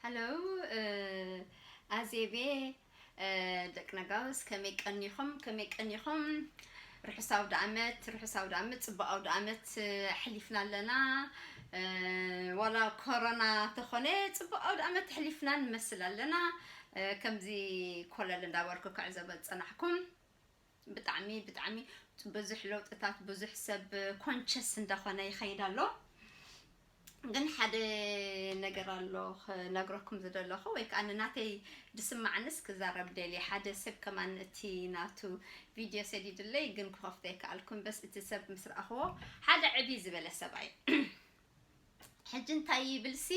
ሃሎ ኣዜቤ ደቂ ነጋውስ ከመይ ቀኒኹም ከመይ ቀኒኹም ርሑስ ኣውደ ዓመት ርሑስ ኣውደ ዓመት ፅቡቅ ኣውደ ዓመት ኣሕሊፍና ኣለና ዋላ ኮሮና ተኾነ ፅቡቅ ኣውደ ዓመት ኣሕሊፍና ንመስል ኣለና ከምዚ ኮለል እንዳበልኩ ክዕዘበ ዝፀናሕኩም ብጣዕሚ ብጣዕሚ ብዙሕ ለውጥታት ብዙሕ ሰብ ኮንቸስ እንዳኾነ ይኸይድ ኣሎ ግን ሓደ ነገር ኣሎ ክነግረኩም ዝደለኹ ወይ ከዓ ንናተይ ድስማዕንስ ክዛረብ ደልየ ሓደ ሰብ ከማን እቲ ናቱ ቪድዮ ሰዲድለይ ግን ክኸፍቶ ኣይከኣልኩን በስ እቲ ሰብ ምስ ረኣኽዎ ሓደ ዕብይ ዝበለ ሰብኣይ ሕጂ እንታይ ይብልሲ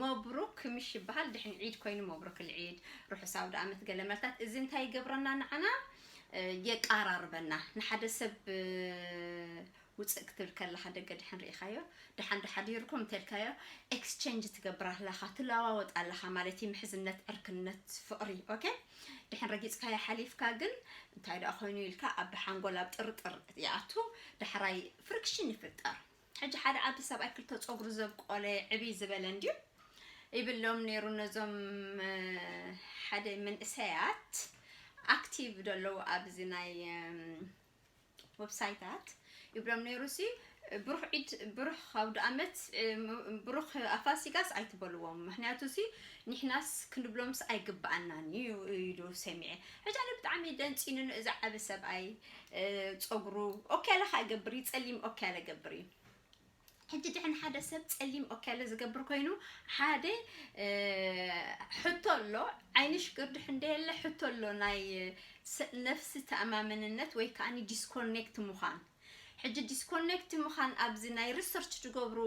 መብሩክ ምሽ ይበሃል ድሕን ዒድ ኮይኑ መብሩክ ልዒድ ርሑስ ኣውደኣመት ገለ መልታት እዚ እንታይ ይገብረና ንዓና የቃራርበና ንሓደ ሰብ ውፅእ ክትብል ከለካ ደገ ድሕን ርኢካዮ ድሓን ዶ ሓዲርኩም እንተልካዮ ኤክስቸንጅ ትገብር ኣለካ ትለዋወጥ ኣለካ ማለት እዩ ምሕዝነት ዕርክነት ፍቅሪ ኦኬ ድሐን ረጊጽካያ ሐሊፍካ ግን እንታይ ደኣ ኮይኑ ኢልካ ኣብ ሐንጎል ኣብ ጥርጥር ይኣቱ ዳሕራይ ፍርክሽን ይፍጠር ሕጂ ሓደ ዓዲ ሰብኣይ ክልተ ጾግሩ ዘብቆለ ዕብይ ዝበለ እንድዩ ይብሎም ነይሩ ነዞም ሓደ መንእሰያት ኣክቲቭ ደለዉ ኣብዚ ናይ ወብሳይታት ይብሎም ነይሩ ሲ ብሩኽ ዒድ ብሩኽ ኣውደኣመት ብሩኽ ኣፋሲጋስ ኣይትበልዎም ምክንያቱ ሲ ንሕናስ ክንብሎምስ ኣይግብኣናን እዩ ኢሉ ሰሚዐ ሕጂ ኣነ ብጣዕሚ ደንፂኑ እዚ ዓቢ ሰብኣይ ፀጉሩ ኦኬ ኣለካ እገብር እዩ ፀሊም ኦኬ ኣለገብር እዩ ሕጂ ድሕን ሓደ ሰብ ጸሊም ኦክያለ ዝገብር ኮይኑ ሓደ ሕቶ ኣሎ ዓይንሽ ግርድሕ እንደየለ ሕቶ ኣሎ ናይ ነፍሲ ተኣማመንነት ወይ ከዓኒ ዲስኮኔክት ምዃን ሕጂ ዲስኮኔክት ምዃን ኣብዚ ናይ ሪሰርች ዝገብሩ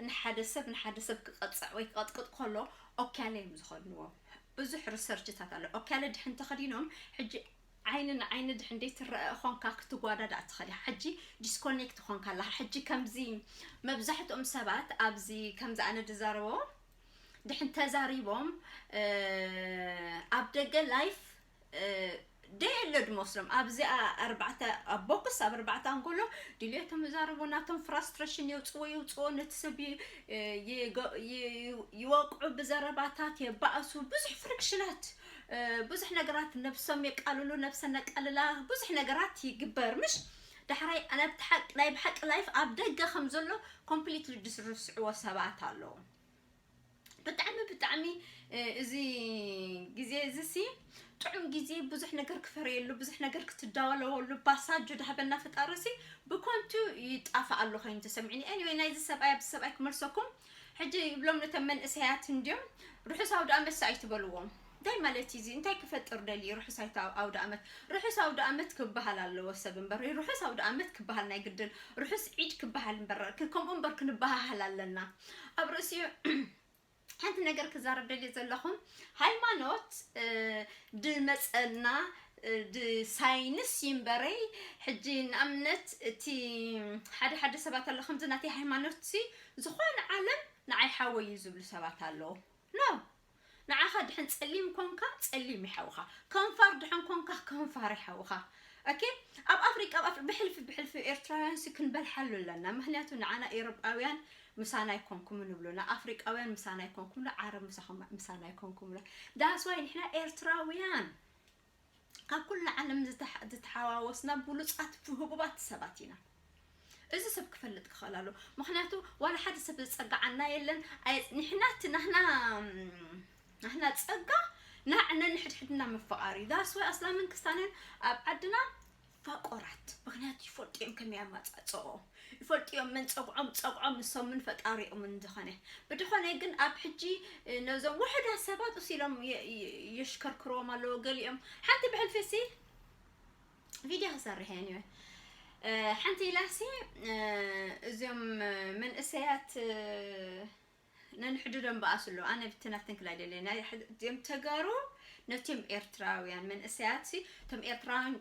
ንሓደ ሰብ ንሓደ ሰብ ክቐጽዕ ወይ ክቐጥቅጥ ከሎ ኦክያለ እዮም ዝኾንዎ ብዙሕ ሪሰርችታት ኣሎ ኦክያለ ድሕን ተኸዲኖም ሕጂ ዓይኒ ንዓይኒ ድሕንደይ ትረኣ ኾንካ ክትጓዳዳእ ትኽእል ኢኻ ሕጂ ዲስኮኔክት ኾንካ ኣለኻ ሕጂ ከምዚ መብዛሕትኦም ሰባት ኣብዚ ከምዚ ኣነ ድዛረቦ ድሕን ተዛሪቦም ኣብ ደገ ላይፍ ደየለ ድመስሎም ኣብዚ ኣርባዕተ ኣብ ቦክስ ኣብ ኣርባዕተ ኣንጎሎ ድልየቶም ይዛረቡ ናቶም ፍራስትሬሽን የውፅዎ ይውፅዎ ነቲ ሰብ ይወቅዑ ብዘረባታት የባእሱ ብዙሕ ፍሪክሽናት ብዙሕ ነገራት ነብሶም የቃልሉ ነብሰ ነቃልላ ብዙሕ ነገራት ይግበር ምሽ ዳሕራይ ኣነብቲ ሓቂ ናይ ብሓቂ ላይፍ ኣብ ደገ ከም ዘሎ ኮምፕሊትሊ ድስርስዕዎ ሰባት ኣለዉ ብጣዕሚ ብጣዕሚ እዚ ግዜ እዚ ሲ ጥዑም ግዜ ብዙሕ ነገር ክፈርየሉ ብዙሕ ነገር ክትዳወለወሉ ባሳጆ ዳህበና ፈጣሪ ሲ ብኮንቱ ይጣፍእ ኣሎ ኮይኑ ተሰሚዕኒ ኤኒወይ ናይዚ ሰብኣይ ኣብዚ ሰብኣይ ክመልሰኩም ሕጂ ይብሎም ነቶም መንእሰያት እንድዮም ርሑስ ኣውደኣመትስ ኣይትበልዎም እንታይ ማለት እዩ እዚ እንታይ ክፈጥር ደልዩ እዩ ርሑስ ኣይተ ኣውደኣመት ርሑስ ኣውደኣመት ክበሃል ኣለዎ ሰብ እምበር ርሑስ ኣውደኣመት ክበሃል ናይ ግድን ርሑስ ዒድ ክበሃል እምበር ክ- ከምኡ እምበር ክንበሃሃል ኣለና ኣብ ርእሲኡ ሓንቲ ነገር ክዛረብ ደልየ ዘለኹ ሃይማኖት እ፣ ድመፀና እ፣ ድሳይንስ እዩ እምበረይ ሕጂ ንኣብነት እቲ ሓደ ሓደ ሰባት ኣሎ ከምዚ ናተይ ሃይማኖት ሲ ዝኾነ ዓለም ንዓይ ሓወይ እዩ ዝብሉ ሰባት ኣለዉ no ንዓኻ ድሕን ጸሊም ኮንካ ጸሊም እዩ ሓውኻ ከንፋር ድሕን ኮንካ ከንፋር እዩ ሓውኻ ኦኬ ኣብ ኣፍሪቃ ኣብ ኣፍሪ ብሕልፊ ብሕልፊ ኤርትራውያን ሲ ክንበልሓሉ ኣለና ምክንያቱ ንዓና ኤሮጳውያን ምሳና ኣይኮንኩምን ይብሉና ኣፍሪቃውያን ምሳና ኣይኮንኩምሉ ዓረብ ምሳኹም ምሳና ኣይኮንኩምሉ ዳስዋይ ንሕና ኤርትራውያን ካብ ኩሉ ዓለም ዝተሓዋወስና ብሉጻት ህቡባት ሰባት ኢና። እዚ ሰብ ክፈልጥ ክኸእል ኣለዎ ምኽንያቱ ዋላ ሓደ ሰብ ዝጸግዓና የለን ኣየጽኒሕና እቲ ናህና ናህና ጸጋ ናዕ ነንሕድሕድና ምፍቓር እዩ ዳስ ወይ ኣስላምን ክስታንን ኣብ ዓድና ፋቆራት ምክንያቱ ይፈልጡ እዮም ከመይ ኣማጻጽእኦም ይፈልጡ እዮም መን ጸግዖም ጸግዖም ንሶምን ፈጣሪኦምን ዝኮነ ብድኮነ ግን ኣብ ሕጂ ነዞም ውሕዳት ሰባት እስ ኢሎም የ- የ- የሽከርክርዎም ኣለዎ ገሊኦም ሓንቲ ብሕልፊ ሲ ቪድዮ ክሰርሕ እየ ኒወ ሓንቲ ኢላሲ እዚኦም መንእሰያት ነንሕድዶ እምበኣስ እሉ ኣነ ብትን ኣፍትንክል ኣይደልየን ናይ እም ተጋሩ ነትም ኤርትራውያን መንእሰያት ሲ እቶም ኤርትራውያን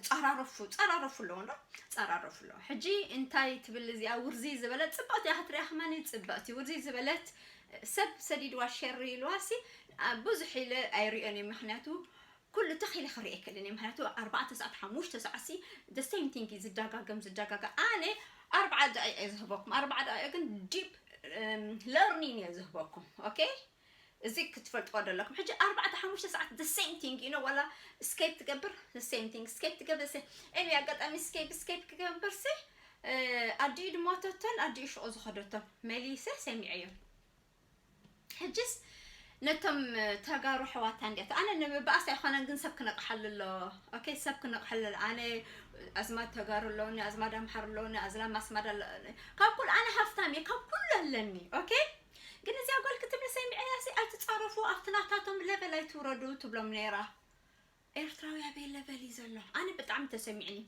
ጻራረፉ ጻራረፉ ኣለዎ እንዶ ጻራረፉ ኣለዎ ሕጂ እንታይ ትብል እዚኣ ውርዚ ዝበለት ጽብቕቲ እያ ክትሪኣ ከማኒ ጽብቕቲ ውርዚ ዝበለት ሰብ ሰዲድዋ ሸር ኢልዋ ሲ ብዙሕ ኢለ ኣይሪኦን እየ ምክንያቱ ኩሉ ትኽ ኢለ ክሪኢ ኣይክእልን እየ ምክንያቱ ኣርባዕተ ሰዓት ሓሙሽተ ሰዓት ሲ the same thing እዩ ዝዳጋገም ዝዳጋገም ኣነ ኣርብዓ ደቂቅ እየ ዝህበኩም ኣርብዓ ደቂቅ ግን ዲፕ ለርኒን እየ ዝህበኩም ኦኬ እዚ ክትፈልጥዎ ደለኩም ሕጂ ኣርባዕተ ሓሙሽተ ሰዓት the same thing you know ዋላ ስኬፕ ትገብር the same thing ስኬፕ ትገብር the same anyway ኣጋጣሚ ስኬፕ ስኬፕ ክገብር ሲ ኣዲኡ ድሞተቶን ኣዲኡ ሽቁ ዝኸደቶን መሊሰ ሰሚዐዮ ሕጅስ ነቶም ተጋሩ ኣሕዋታ እንድያ እቲ ኣነ ንምባኣስ ኣይኮነን ግን ሰብ ክነቕሓሉ ኣሎ ኦኬ ሰብ ክነቕሓሉ ኣሎ ኣነ ኣዝማድ ተጋሩ ኣለውኒ ኣዝማድ ኣምሓር ኣለውኒ ኣዝላ ማስማድ ኣለኒ ካብ ኩሉ ኣነ ሃፍታም እየ ካብ ኩሉ ኣለኒ ኦኬ ግን እዚኣ ጓል ክትብል ሰሚዐያ ሲ ኣይትፃረፉ ኣብቲ ናታቶም ለበል ኣይትውረዱ ትብሎም ነይራ ኤርትራዊ ኣበይ ለቨል እዩ ዘሎ ኣነ ብጣዕሚ ተሰሚዕኒ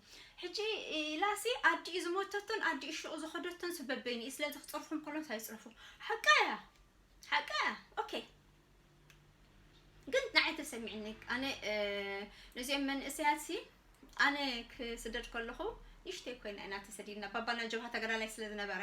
ሕጂ ኢላሲ ኣዲኡ ዝሞተቶን ኣዲኡ ሹቅ ዝኸደቶን ሲ በበይንኡ ስለዚ ክጸርፎም ከሎን ሳይ ይጽረፉ ሓቃ እያ ሓቃ እያ ኦኬ ግን ንዓይ ተሰሚዕኒ ኣነ ነዚኦም መንእሰያት ሲ ኣነ ክስደድ ከለኹ ንእሽተይ ኮይና ኢና ተሰዲድና ባባና ጀብሃ ተጋዳላይ ስለ ዝነበረ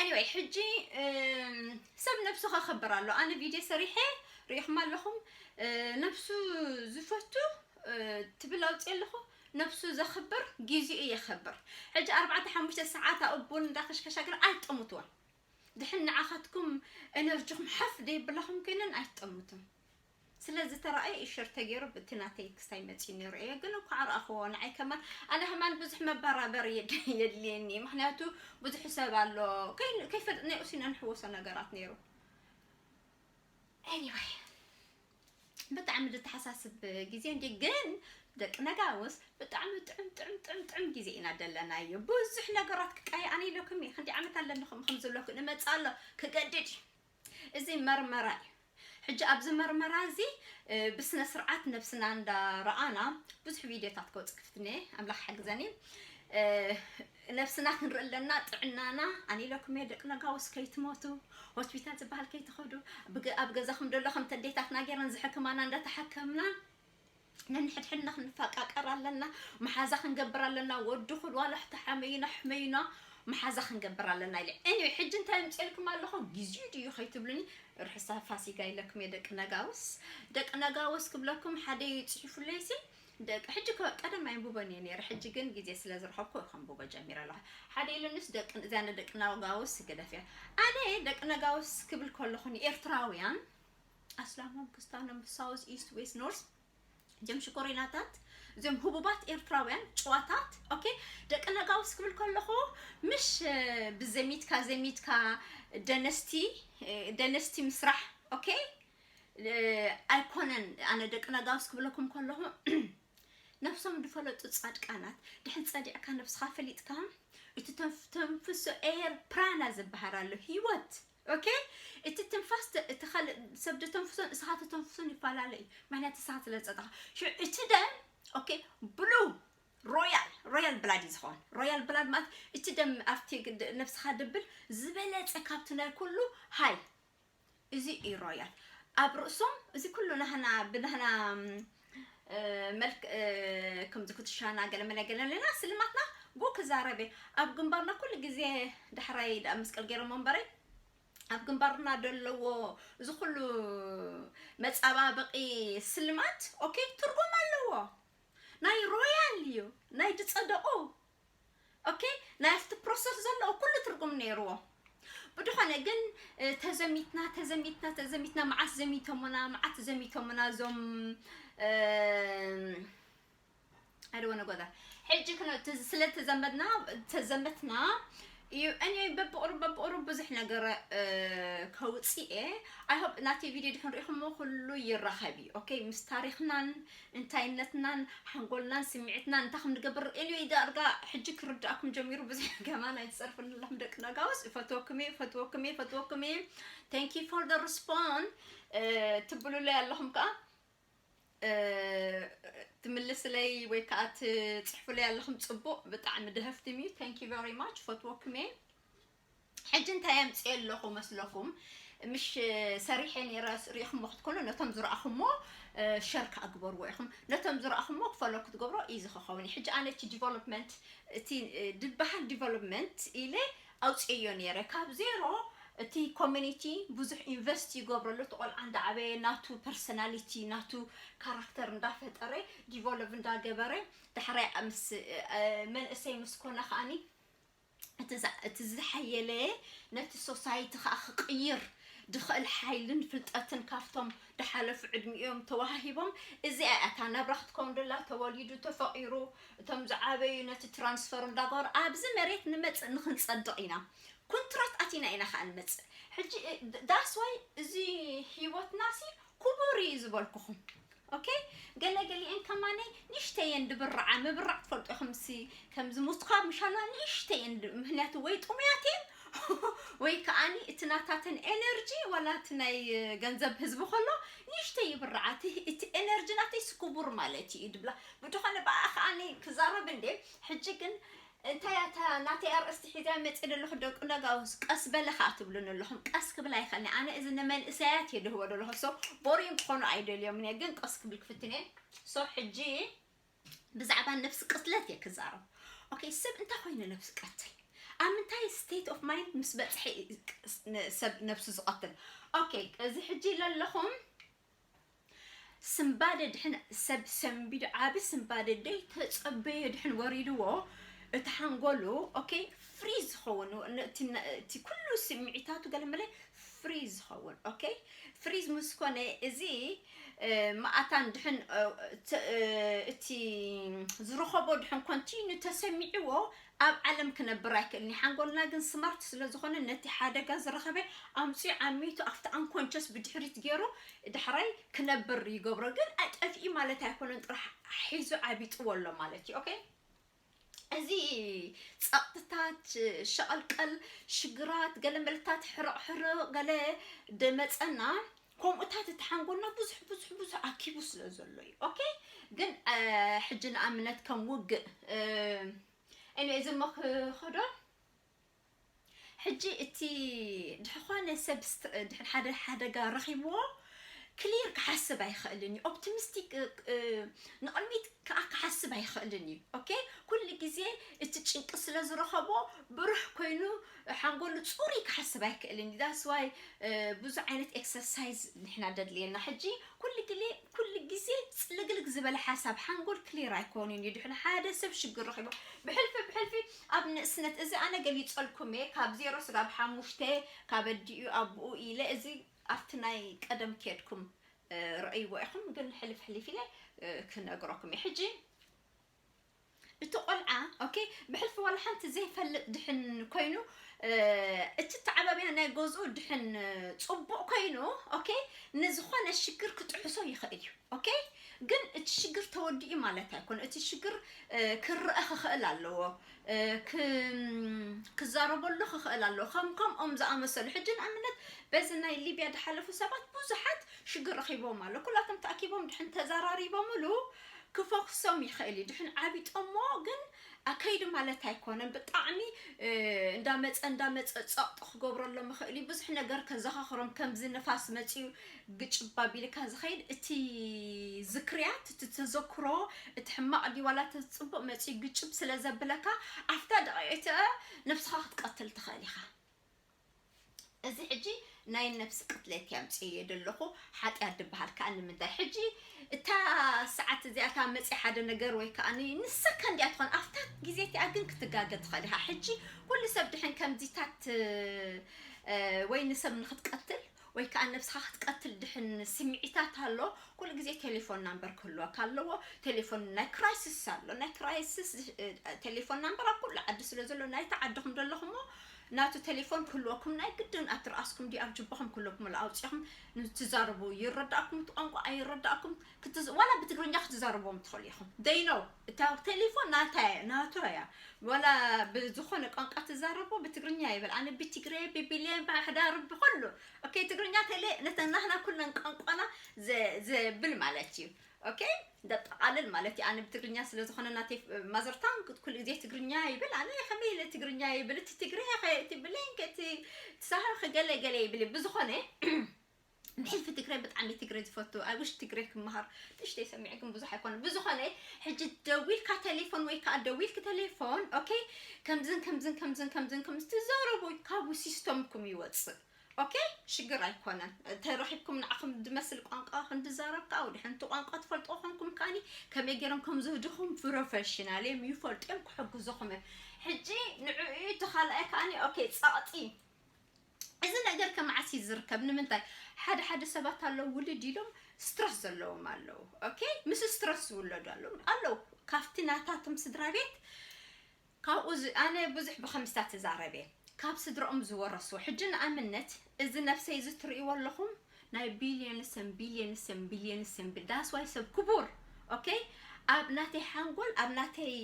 ኤኒወይ ሕጂ ሰብ ነብሱ ከኽብር ኣሎ ኣነ ቪድዮ ሰሪሐ ሪኢኹም ኣለኹም ነብሱ ዝፈቱ ትብል ኣውፅእ ኣለኹ ነብሱ ዘኽብር ግዚኡ የኽብር ሕጂ ኣርባዕተ ሓሙሽተ ሰዓት ኣብኡ ቡን እንዳከሽከሻ ግን ኣይጠሙትዎን ድሕን ንዓኻትኩም ኤነርጂኹም ሓፍ ደየብላኹም ኮይነን ኣይትጠሙትን ስለ ዝተራኣየ እዩ ሸር ተገይሩ ብቲ ናተይ ክስታይ መጺኡ ነይሩ እየ ግን እንኳዕ ረኣኽዎ ንዓይ ከማን ኣነ ከማን ብዙሕ መባራበር የድልየኒ እዩ ምክንያቱ ብዙሕ ሰብ ኣሎ ከይፈልጥ ናይ ኡሲኖ ንሕወሶ ነገራት ነይሩ anyway ብጣዕሚ ዝተሓሳስብ ግዜ እንዲ ግን ደቂ ነጋውስ ብጣዕሚ ጥዑም ጥዑም ጥዑም ጥዑም ግዜ ኢና ደለናዮ ብዙሕ ነገራት ክቃየ ኣነ ኢለኩም እየ ክንዲ ዓመት ኣለንኹም ከም ዘለኩ ንመፅእ ኣሎ ክገድድ እዩ እዚ መርመራ እዩ ሕጂ ኣብዚ መርመራ እዚ ብስነ ስርዓት ነብስና እንዳ ረኣና ብዙሕ ቪድዮታት ክወጽእ ክፍትን እየ ኣምላኽ ሓግዘኒ ነብስና ክንርኢ ኣለና ጥዕናና ኣነ ኢለኩም እየ ደቂ ነጋውስ ከይትሞቱ ሆስፒታል ዝበሃል ከይትኸዱ ኣብ ገዛኹም ደሎ ከምቲ ኣዴታትና ገይረን ዝሕክማና እንዳተሓከምና ነንሕድሕድና ክንፋቃቀር ኣለና መሓዛ ክንገብር ኣለና ወዲ ኩል ዋላ ሕቶ ሓመዩና ኣሕመዩና መሓዛ ክንገብር ኣለና ኢለ anyway ሕጂ እንታይ ኣምጼልኩም ኣለኹ ግዜኡ ድዩ ከይትብሉኒ ርሑሰ ፋሲጋ ኢለኩም እየ ደቂ ነጋውስ ደቂ ነጋውስ ክብለኩም ሓደ እዩ ጽሒፉለይሲ ደቂ ሕጂ ቀደም ኣይንብቦን እየ ነይረ ሕጂ ግን ግዜ ስለ ዝረኸብኩ ከንብቦ ጀሚረ ኣለኹ ሓደ ኢሉኒስ ደቂ እዚኣ ንደቂ ነጋውስ ግደፍያ ኣነ ደቂ ነጋውስ ክብል ከለኹ ንኤርትራውያን ኣስላሞም ክስታኖም ሳውዝ ኢስት ዌስት ኖርዝ ጀም ሽኮሪናታት እዚኦም ህቡባት ኤርትራውያን ጨዋታት ኦኬ ደቂ ነጋውስ ክብል ከለኹ ምሽ ብዘሚትካ ዘሚትካ ደነስቲ ደነስቲ ምስራሕ ኦኬ ኣይኮነን ኣነ ደቂ ነጋውስ ክብለኩም ከለኹ ነፍሶም ዝፈለጡ ፃድቃናት ድሕን ፀዲዕካ ነብስኻ ፈሊጥካ እቲ ተንፍሶ ኤር ፕራና ዝበሃል ኣሎ ሂወት ኦኬ እቲ ትንፋስ እቲ ካልእ ሰብ ደተንፍሶን እስኻ ተተንፍሶን ይፈላለ እዩ ምክንያት እስኻ ስለ ዝፀጣኻ ሽዑ እቲ ደም ኦኬ ብሉ ሮያል ሮያል ብላድ እዩ ዝኸውን ሮያል ብላድ ማለት እቲ ደም ኣብቲ ግድ- ነብስኻ ድብል ዝበለፀ ካብቲ ናይ ኩሉ ሃይ እዚ እዩ ሮያል ኣብ ርእሶም እዚ ኩሉ ናህና ብናህና መልክ ከምዚ ኩትሻና ገለመለ ገለለና ስልማትና ጎ ክዛረበ ኣብ ግንባርና ኩሉ ግዜ ዳሕራይ ዳኣ መስቀል ገይሮሞ እምበረይ ኣብ ግንባርና ደለዎ እዚ ኩሉ መጻባበቂ ስልማት ኦኬ ትርጉም ኣለዎ ናይ ሮያል እዩ ናይ ድጸደቁ ኦኬ ናይ ኣፍቲ ፕሮሰስ ዘለዎ ኩሉ ትርጉም ነይርዎ ብድኾነ ግን ተዘሚትና ተዘሚትና ተዘሚትና መዓት ዘሚቶሙና መዓት ዘሚቶሙና እዞም I don't want to go there. ሕጂ ክነ ስለተዘመድና ተዘመትና እዩ እኔ በብቕሩብ በብቕሩብ ብዙሕ ነገር ከውፅእ እየ ኣይ ሆፕ ናተይ ቪድዮ ድሕን ሪኢኹሞ ኩሉ ይራኸብ እዩ ኦኬ ምስ ታሪኽናን እንታይነትናን ሓንጎልናን ስምዒትናን እንታይ ከም ንገብር እኔ ዳርጋ ሕጂ ክርዳእኩም ጀሚሩ ብዙሕ ገማን ኣይትፀርፍን ኣለኹም ደቂ ነጋውስ እፈትወኩም እየ እፈትወኩም እየ እፈትወኩም እየ ታንኪ ፎር ደ ሪስፖን ትብሉለይ ኣለኹም ከዓ ትምልስለይ ወይ ከዓ ትፅሕፉለይ ኣለኹም ፅቡቕ ብጣዕሚ ደህፍትም እዩ ታንኪ ቨሪ ማች ፈትወኩም እየ ሕጂ እንታይ ኣምፅኦ ኣለኹ መስለኩም ምሽ ሰሪሐ ነይረ ሪኢኹሞ ክትኮኑ ነቶም ዝረኣኹሞ ሸር ከዓ ግበርዎ ኢኹም ነቶም ዝረኣኹሞ ክፈሎ ክትገብሮ ኢዚ ክኸውን እዩ ሕጂ ኣነ እቲ ዲቨሎፕመንት እቲ ድበሃል ዲቨሎፕመንት ኢለ ኣውጺኤዮ ኔረ ካብ ዜሮ እቲ ኮሚኒቲ ብዙሕ ኢንቨስት ይገብረሉ እቲ ቆልዓ እንዳዓበየ ናቱ ፐርሰናሊቲ ናቱ ካራክተር እንዳፈጠረ ዲቮሎቭ እንዳገበረ ዳሕራይ ምስ መንእሰይ ምስ ኮነ ከኣኒ እቲ ዝሓየለ ነቲ ሶሳይቲ ከኣ ክቅይር ድኽእል ሓይልን ፍልጠትን ካብቶም ድሓለፉ ዕድሚኦም ተዋሃሂቦም እዚኣ እያ እታ ናብራ ክትከውን ደላ ተወሊዱ ተፈቂሩ እቶም ዝዓበዩ ነቲ ትራንስፈር እንዳገበሩ ኣብዚ መሬት ንመጽእ ንክንጸድቅ ኢና ኩንትራት ኣቲና ኢና ከኣ ንመጽእ ሕጂ ዳስ ዋይ እዚ ሂወትና ሲ ኩቡር ኢዩ ዝበልኩኹም ኦኬ ገለ ገሊኤን ከማነይ ንእሽተይ እየን ድብርዓ ምብራዕ ትፈልጡ ኢኹም ሲ ከም ዝሙትካ ምሻላ ንእሽተይ እየን ምክንያቱ ወይ ጥሙያት እየን ወይ ከኣኒ እቲ ናታተን ኤነርጂ ዋላ እቲ ናይ ገንዘብ ህዝቢ ከሎ ንእሽተይ ይብርዓ እቲ ኤነርጂ ናተይ ስኩቡር ማለት እዩ ድብላ ብድኾነ ብኣኣ ከኣኒ ክዛረብ እንዴ ሕጂ ግን እንታይ እያ እታ ናተይ ኣርእስቲ ሒዘ መጺ ዘለኹ ደቂ ለጋውስ ቀስ በለ ከኣ ትብሉኒ ኣለኹም ቀስ ክብል ኣይኸእልኒ ኣነ እዚ ንመንእሰያት እየ ድህቦ ዘለኹ ሶ ቦሪን ክኾኑ ኣይደልዮምን እየ ግን ቀስ ክብል ክፍትን እየ ሶ ሕጂ ብዛዕባ ነብሲ ቅትለት እየ ክዛረብ ኦኬ ሰብ እንታይ ኮይኑ ነብሲ ቀትል ኣብ ምንታይ ስቴት ኦፍ ማይንድ ምስ በጽሐ ሰብ ነብሱ ዝቐትል ኦኬ እዚ ሕጂ ለለኹም ስንባደ ድሕን ሰብ ሰንቢዱ ዓቢ ስንባደ ደይ ተጸበዮ ድሕን ወሪድዎ እቲ ሓንጎሉ ኦኬ ፍሪዝ ዝኸውን እቲ ኩሉ ስምዒታቱ ገለመለ ፍሪዝ ዝኸውን ኦኬ ፍሪዝ ምስ ኮነ እዚ መኣታን ድሕን እቲ ዝረኸቦ ድሕን ኮንቲኑ ተሰሚዕዎ ኣብ ዓለም ክነብር ኣይክእልን እዩ ሓንጎልና ግን ስማርት ስለ ዝኾነ ነቲ ሓደጋ ዝረኸበ ኣምጺኡ ዓሚቱ ኣብቲ ኣንኮንቸስ ብድሕሪት ጌሩ ዳሕራይ ክነብር ይገብሮ ግን ኣጠፊኡ ማለት ኣይኮነን ጥራሕ ሒዙ ዓቢጥዎ ኣሎ ማለት እዩ ኦኬ እዚ ጸቕጥታት ሸቐልቀል ሽግራት ገለ መልታት ሕርቕ ሕርቕ ገለ ደመጸና ከምኡታት እቲ ሓንጎልና ብዙሕ ብዙሕ ብዙሕ ኣኪቡ ስለ ዘሎ እዩ ኦኬ ግን ሕጂ ንኣብነት ከም ውግእ እኔ እዚ መክኸዶ ሕጂ እቲ ድሕኾነ ሰብ ድሕን ሓደ ሓደጋ ረኺብዎ ክሊር ክሓስብ ኣይኽእልን እዩ ኦፕቲሚስቲክ ንቕድሚት ከዓ ክሓስብ ኣይኽእልን እዩ ኦኬ ኩሉ ግዜ እቲ ጭንቂ ስለ ዝረኸቦ ብሩሕ ኮይኑ ሓንጎሉ ጹሩይ ክሓስብ ኣይክእልን እዩ that's why ብዙሕ ዓይነት exercise ንሕና ደድልየና ሕጂ ኩሉ ግዜ ኩሉ ግዜ ጽልግልግ ዝበለ ሓሳብ ሓንጎል ክሊር ኣይኮኑን እዩ ድሕሪ ሓደ ሰብ ሽግር ረኺቡ ብሕልፊ ብሕልፊ ኣብ ንእስነት እዚ ኣነ ገሊጸልኩም እየ ካብ ዜሮ ስጋብ ሓሙሽተ ካብ ኣዲኡ ኣቡኡ ኢለ እዚ ኣብቲ ናይ ቀደም ኬድኩም ረእይዎ ኢኹም ግን ሕልፍ ሕሊፍ ኢለ ክነግረኩም እየ ሕጂ እቲ ቆልዓ ኦኬ ብሕልፊ ዋላ ሓንቲ ዘይፈልጥ ድሕን ኮይኑ እቲ ተዓባብያ ናይ ገዝኡ ድሕን ፅቡቕ ኮይኑ ኦኬ ንዝኾነ ሽግር ክጥሕሶ ይኽእል እዩ ኦኬ ግን እቲ ሽግር ተወዲኡ ማለት ኣይኮነ እቲ ሽግር ክረአ ክኽእል ኣለዎ ክዛረበሉ ክኽእል ኣለዎ ከም ከምኦም ዝኣመሰሉ ሕጂ ንኣብነት በዚ ናይ ሊብያ ዝሓለፉ ሰባት ብዙሓት ሽግር ረኺቦም ኣሎ ኩላቶም ተኣኪቦም ድሕን ተዘራሪቦምሉ ክፈኩሶም ይክእል እዩ ድሕን ዓቢጦሞ ግን ኣከይዱ ማለት ኣይኮነን ብጣዕሚ እንዳ መጸ እንዳ መጸ ጸቕጢ ክገብረሎም ይክእል እዩ ብዙሕ ነገር ከዘኻኽሮም ከምዚ ንፋስ መጺኡ ግጭባ ቢልካ ዝኸይድ እቲ ዝክርያት እቲ ተዘክሮ እቲ ሕማቕ ድዩ ዋላ እቲ ጽቡቕ መጺኡ ግጭብ ስለ ዘብለካ ኣብታ ደቂቕ ነፍስኻ ክትቀትል ትኽእል ኢኻ እዚ ሕጂ ናይ ነብሲ ቅትለት እየ ኣምጺኤዮ ደለኹ ሓጥያት ድብሃል ከኣ ንምንታይ ሕጂ እታ ሰዓት እዚኣ እታ መጺኣ ሓደ ነገር ወይ ከኣ ንሳ ከንዲኣ ትኾን ኣፍታ ግዜ እቲኣ ግን ክትጋገ ትኽእል ኢኻ ሕጂ ኩሉ ሰብ ድሕን ከምዚታት ወይ ንሰብ ንኽትቀትል ወይ ከኣ ነብስኻ ክትቀትል ድሕን ስምዒታት ኣሎ ኩሉ ግዜ ቴሌፎን ናምበር ክህልወካ ኣለዎ ቴሌፎን ናይ ክራይስስ ኣሎ ናይ ክራይስስ ቴሌፎን ናምበር ኣብ ኩሉ ዓዲ ስለ ዘሎ ናይቲ ዓድኹም ዘለኹሞ ናቱ ቴሌፎን ክህልወኩም ናይ ግድን ኣብ ትርኣስኩም ድዩ ኣብ ጅባኹም ክህልወኩም ኣሎ ኣውጺኹም ትዛረቡ ይረዳእኩም እቲ ቋንቋ ኣይረዳእኩም ክትዝ ዋላ ብትግርኛ ክትዛረብዎም ትኽእሉ ኢኹም they know እታ ቴሌፎን ናታ እያ ናቱ እያ ዋላ ብዝኾነ ቋንቋ ትዛረቦ ብትግርኛ ይበል ኣነ ብትግረ ብቢሌን ብኣሕዳር ብኹሉ ኦኬ ትግርኛ ቴሌ ነተ ናህና ኩለን ቋንቋና ዘብል ማለት እዩ ኦኬ ደጠቃልል ማለት እዩ ኣነ ብትግርኛ ስለ ዝኾነ ናተይ ማዘርታን ኩሉ ግዜ ትግርኛ ይብል ኣነ ከመይ ኢለ ትግርኛ ይብል እቲ ትግርያ እቲ ብሌን እቲ ሳህር ገለ ገለ ይብል ብዝኾነ ብሕልፊ ትግሬ ብጣዕሚ እየ ትግሬ ዝፈቱ ኣይ ዊሽ ትግሬ ክመሃር ንእሽተይ ሰሚዐ ግን ብዙሕ ኣይኮነን ብዝኾነ ሕጂ ደዊልካ ቴሌፎን ወይ ከዓ ደዊልክ ቴሌፎን ኦኬ ከምዝን ከምዝን ከምዝን ከምዝን ከምዝ ትዛረቡ ካብኡ ሲስተምኩም ይወፅእ ኦኬ ሽግር ኣይኮነን ተረኺብኩም ንዓኹም ዝመስል ቋንቋ ክንድዛረብ ከዓ ወደ ሓንቲ ቋንቋ ትፈልጦ ኮንኩም ከዓኒ ከመይ ገይሮም ከም ዝህድኹም ፕሮፌሽናል እዮም ይፈልጡ እዮም ክሕግዙኹም እዮም ሕጂ ንዕኡ እቲ ካልኣይ ከዓኒ ኦኬ ጸቕጢ እዚ ነገር ከ መዓስ እዩ ዝርከብ ንምንታይ ሓደ ሓደ ሰባት ኣለዉ ውልድ ኢሎም ስትረስ ዘለዎም ኣለዉ ኦኬ ምስ ስትረስ ዝውለዱ ኣለዉ ኣለዉ ካብቲ ናታቶም ስድራ ቤት ካብኡ ኣነ ብዙሕ ብከምስታት እዛረብ እየ ካብ ስድረኦም ዝወረስዎ ሕጂ ንኣብነት እዚ ነብሰይ እዚ ትርእይዎ ኣለኹም ናይ ቢልዮንስን ቢልዮንስን ቢልዮንስን ዳስዋይ ሰብ ክቡር ኦኬ ኣብ ናተይ ሓንጎል ኣብ ናተይ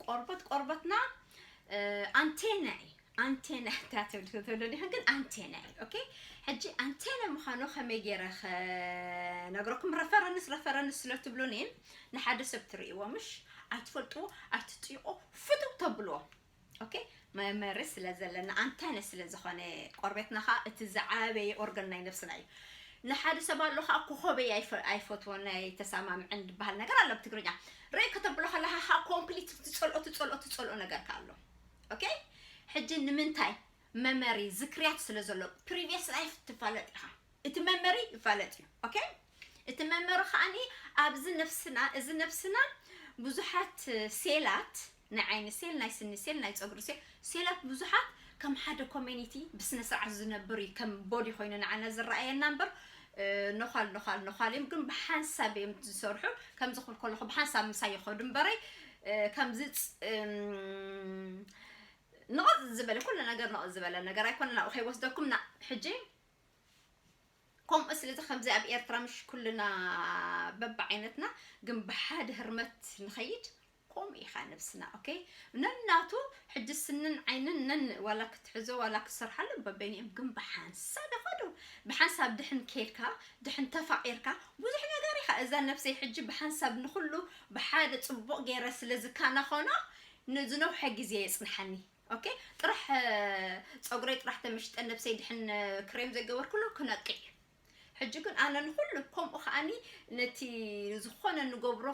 ቆርበት ቆርበትና ኣንቴና እዩ ኣንቴና እካ ትብል ክትብሉ ዲክን ግን ኣንቴና እዩ ኦኬ ሕጂ ኣንቴና ምዃኑ ከመይ ገይረ ክነግረኩም ረፈረንስ ረፈረንስ ስለ ትብሉኒ ንሓደ ሰብ ትርእይዎ ምሽ ኣይትፈልጥዎ ኣይትጥይቆ ፍትው ተብልዎ ኦኬ መመሪ ስለ ዘለና ኣንታይነ ስለ ዝኾነ ቆርቤትና ከዓ እቲ ዝዓበየ ኦርገን ናይ ነብስና እዩ ንሓደ ሰብ ኣሎ ከዓ ኮኸበይ ኣይፈትዎን ኣይተሰማምዕን ዝበሃል ነገር ኣሎ ብትግርኛ ርእይ ከተብሎ ከለካ ከዓ ኮምፕሊት ትፀልኦ ትፀልኦ ትፀልኦ ነገር ከዓ ኣሎ ኦኬ ሕጂ ንምንታይ መመሪ ዝክርያት ስለ ዘሎ ፕሪቪየስ ላይፍ ትፋለጥ ኢኻ እቲ መመሪ ይፋለጥ እዩ ኦኬ እቲ መመሪ ከዓኒ ኣብዚ ነፍስና እዚ ነፍስና ብዙሓት ሴላት ናይ ዓይኒ ሴል ናይ ስኒ ሴል ናይ ፀጉሪ ሴል ሴላት ብዙሓት ከም ሓደ ኮሚኒቲ ብስነ ስርዓት ዝነብር እዩ ከም ቦዲ ኮይኑ ንዓና ዝረኣየና እምበር ነዃል ነዃል ነዃል እዮም ግን ብሓንሳብ እዮም ዝሰርሑ ከምዚ ክብል ከለኹ ብሓንሳብ ምሳይ ይኸዱ እምበረይ ከምዚ ንቕፅ ዝበለ ኩሉ ነገር ንቕፅ ዝበለ ነገር ኣይኮነ ናብኡ ከይወስደኩም ና ሕጂ ከምኡ ስለዚ ከምዚ ኣብ ኤርትራ ምሽ ኩልና በብዓይነትና ግን ብሓደ ህርመት ንኸይድ ኮምኡ ኢካ ነብስና ok ነናቱ ሕጂ ስንን ዓይንን ነን ዋላ ክትሕዞ ዋላ ክትሰርሓሉ በበይንኦም ግን ብሓንሳብ ይከዱ ብሓንሳብ ድሕን ኬድካ ድሕን ተፋቂርካ ብዙሕ ነገር ኢካ እዛ ነብሰይ ሕጂ ብሓንሳብ ንኩሉ ብሓደ ጽቡቅ ጌረ ስለ ዝካናኮኖ ንዝነውሐ ግዜ የጽንሓኒ ok ጥራሕ ጸጉረይ ጥራሕ ተመሽጠ ነብሰይ ድሕን ክሬም ዘይገበርኩሉ ክነቅዕ እዩ ሕጂ ግን ኣነ ንኹሉ ከምኡ ከኣኒ ነቲ ዝኾነ ንገብሮ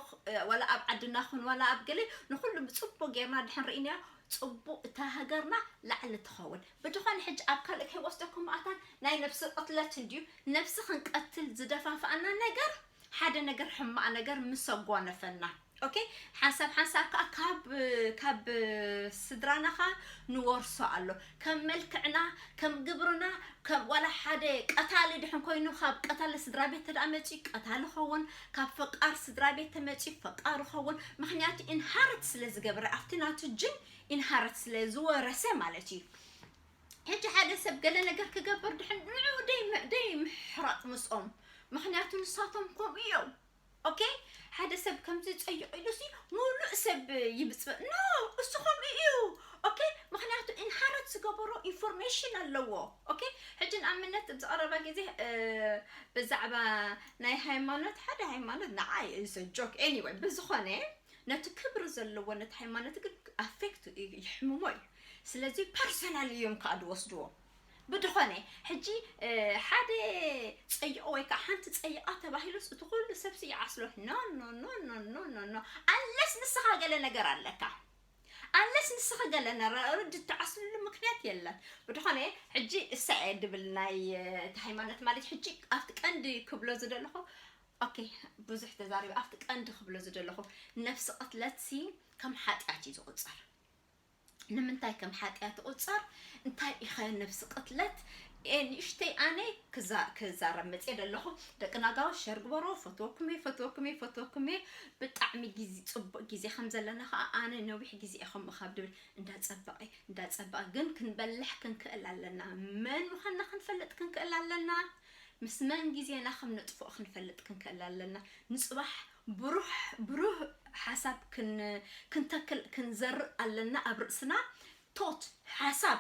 ዋላ ኣብ ዓድና ኹን ዋላ ኣብ ገለ ንኹሉ ብጽቡቅ ጌርና ድሕን ርኢናዮ ጽቡቅ እታ ሃገርና ላዕሊ ትኸውን ብድኾነ ሕጂ ኣብ ካልእ ከይወስደኩም ኣታ ናይ ነብሲ ቅትለት እንድዩ ነብሲ ክንቀትል ዝደፋፍኣና ነገር ሓደ ነገር ሕማቅ ነገር ምስ ኣጓነፈና ኦኬ ሓንሳብ ሓንሳብ ከኣ ካብ ካብ ስድራና ከኣ ንወርሶ ኣሎ ከም መልክዕና ከም ግብርና ከም ዋላ ሓደ ቀታሊ ድሕን ኮይኑ ካብ ቀታሊ ስድራ ቤት ተደኣ መጺ ቀታሊ ኸውን ካብ ፈቃር ስድራ ቤት ተመጺ ፈቃር ኸውን ምክንያቱ ኢንሃርት ስለ ዝገብረ ኣብቲ ናቱ ጅን ኢንሃርት ስለ ዝወረሰ ማለት እዩ ሕጂ ሓደ ሰብ ገለ ነገር ክገብር ድሕን ንዑ ደይ ደይ ምሕራጥ ምስኦም ምክንያቱ ንሳቶም ከምኡ እዮም ኦኬ ሓደ ሰብ ከምዚ ጸይቕ ኢሉ ሲ ሙሉእ ሰብ ይብጽበ ኖ እሱ ከምኡ እዩ ኦኬ ምክንያቱ ኢንሃረት ዝገበሮ ኢንፎርሜሽን ኣለዎ ኦኬ ሕጂ ንኣብነት ኣብዚ ቀረባ ግዜ ብዛዕባ ናይ ሃይማኖት ሓደ ሃይማኖት ንዓ ኢዘ ጆክ ኤኒወይ ብዝኾነ ነቲ ክብሪ ዘለዎ ነቲ ሃይማኖት ግን ኣፌክት ይሕምሞ እዩ ስለዚ ፐርሰናል እዮም ከኣ ዝወስድዎ። ብድኾነ ሕጂ ሓደ ጸይቑ ወይ ከኣ ሓንቲ ጸይቓ ተባሂሉስ እቲ ኩሉ ሰብሲ ይዓስሎ ኖኖኖኖኖኖኖ ኣንለስ ንስኻ ገለ ነገር ኣለካ ኣንለስ ንስኺ ገለ ነረርድ እትዓስልሉ ምክንያት የለን። ብድኾነ ሕጂ እሳይ እየ ድብል ናይ እቲ ሃይማኖት ማለት ሕጂ ኣብቲ ቀንዲ ክብሎ ዝደለኹ ኦኬ ብዙሕ ተዛሪበ ኣብቲ ቀንዲ ክብሎ ዝደለኹ ነፍሲ ቅትለትሲ ከም ሓጢኣት እዩ ዝቑጸር ንምንታይ ከም ሓጥያት ይቁጸር እንታይ ኢኸ ነብሲ ቅትለት ኤእ ንእሽተይ ኣነ ክዛ ክዛረብ መጽየ ደለኹ ደቂ ናጋዊ ሸር ግበሮ ፈትወኩም እየ ፈትወኩም እየ ፈትወኩም እየ ብጣዕሚ ግዜ ጽቡቅ ግዜ ከም ዘለና ከኣ ኣነ ነዊሕ ግዜ እየ ከምኡ ካብ ድብል እንዳ ጸበቀ እንዳ ጸበቀ ግን ክንበልሕ ክንክእል ኣለና መን ምዃንና ክንፈልጥ ክንክእል ኣለና ምስ መን ግዜና ከም ነጥፍኦ ክንፈልጥ ክንክእል ኣለና ንጽባሕ ብሩሕ ብሩህ ሓሳብ ክን ክንተክል ክንዘርእ ኣለና ኣብ ርእስና ቶት ሓሳብ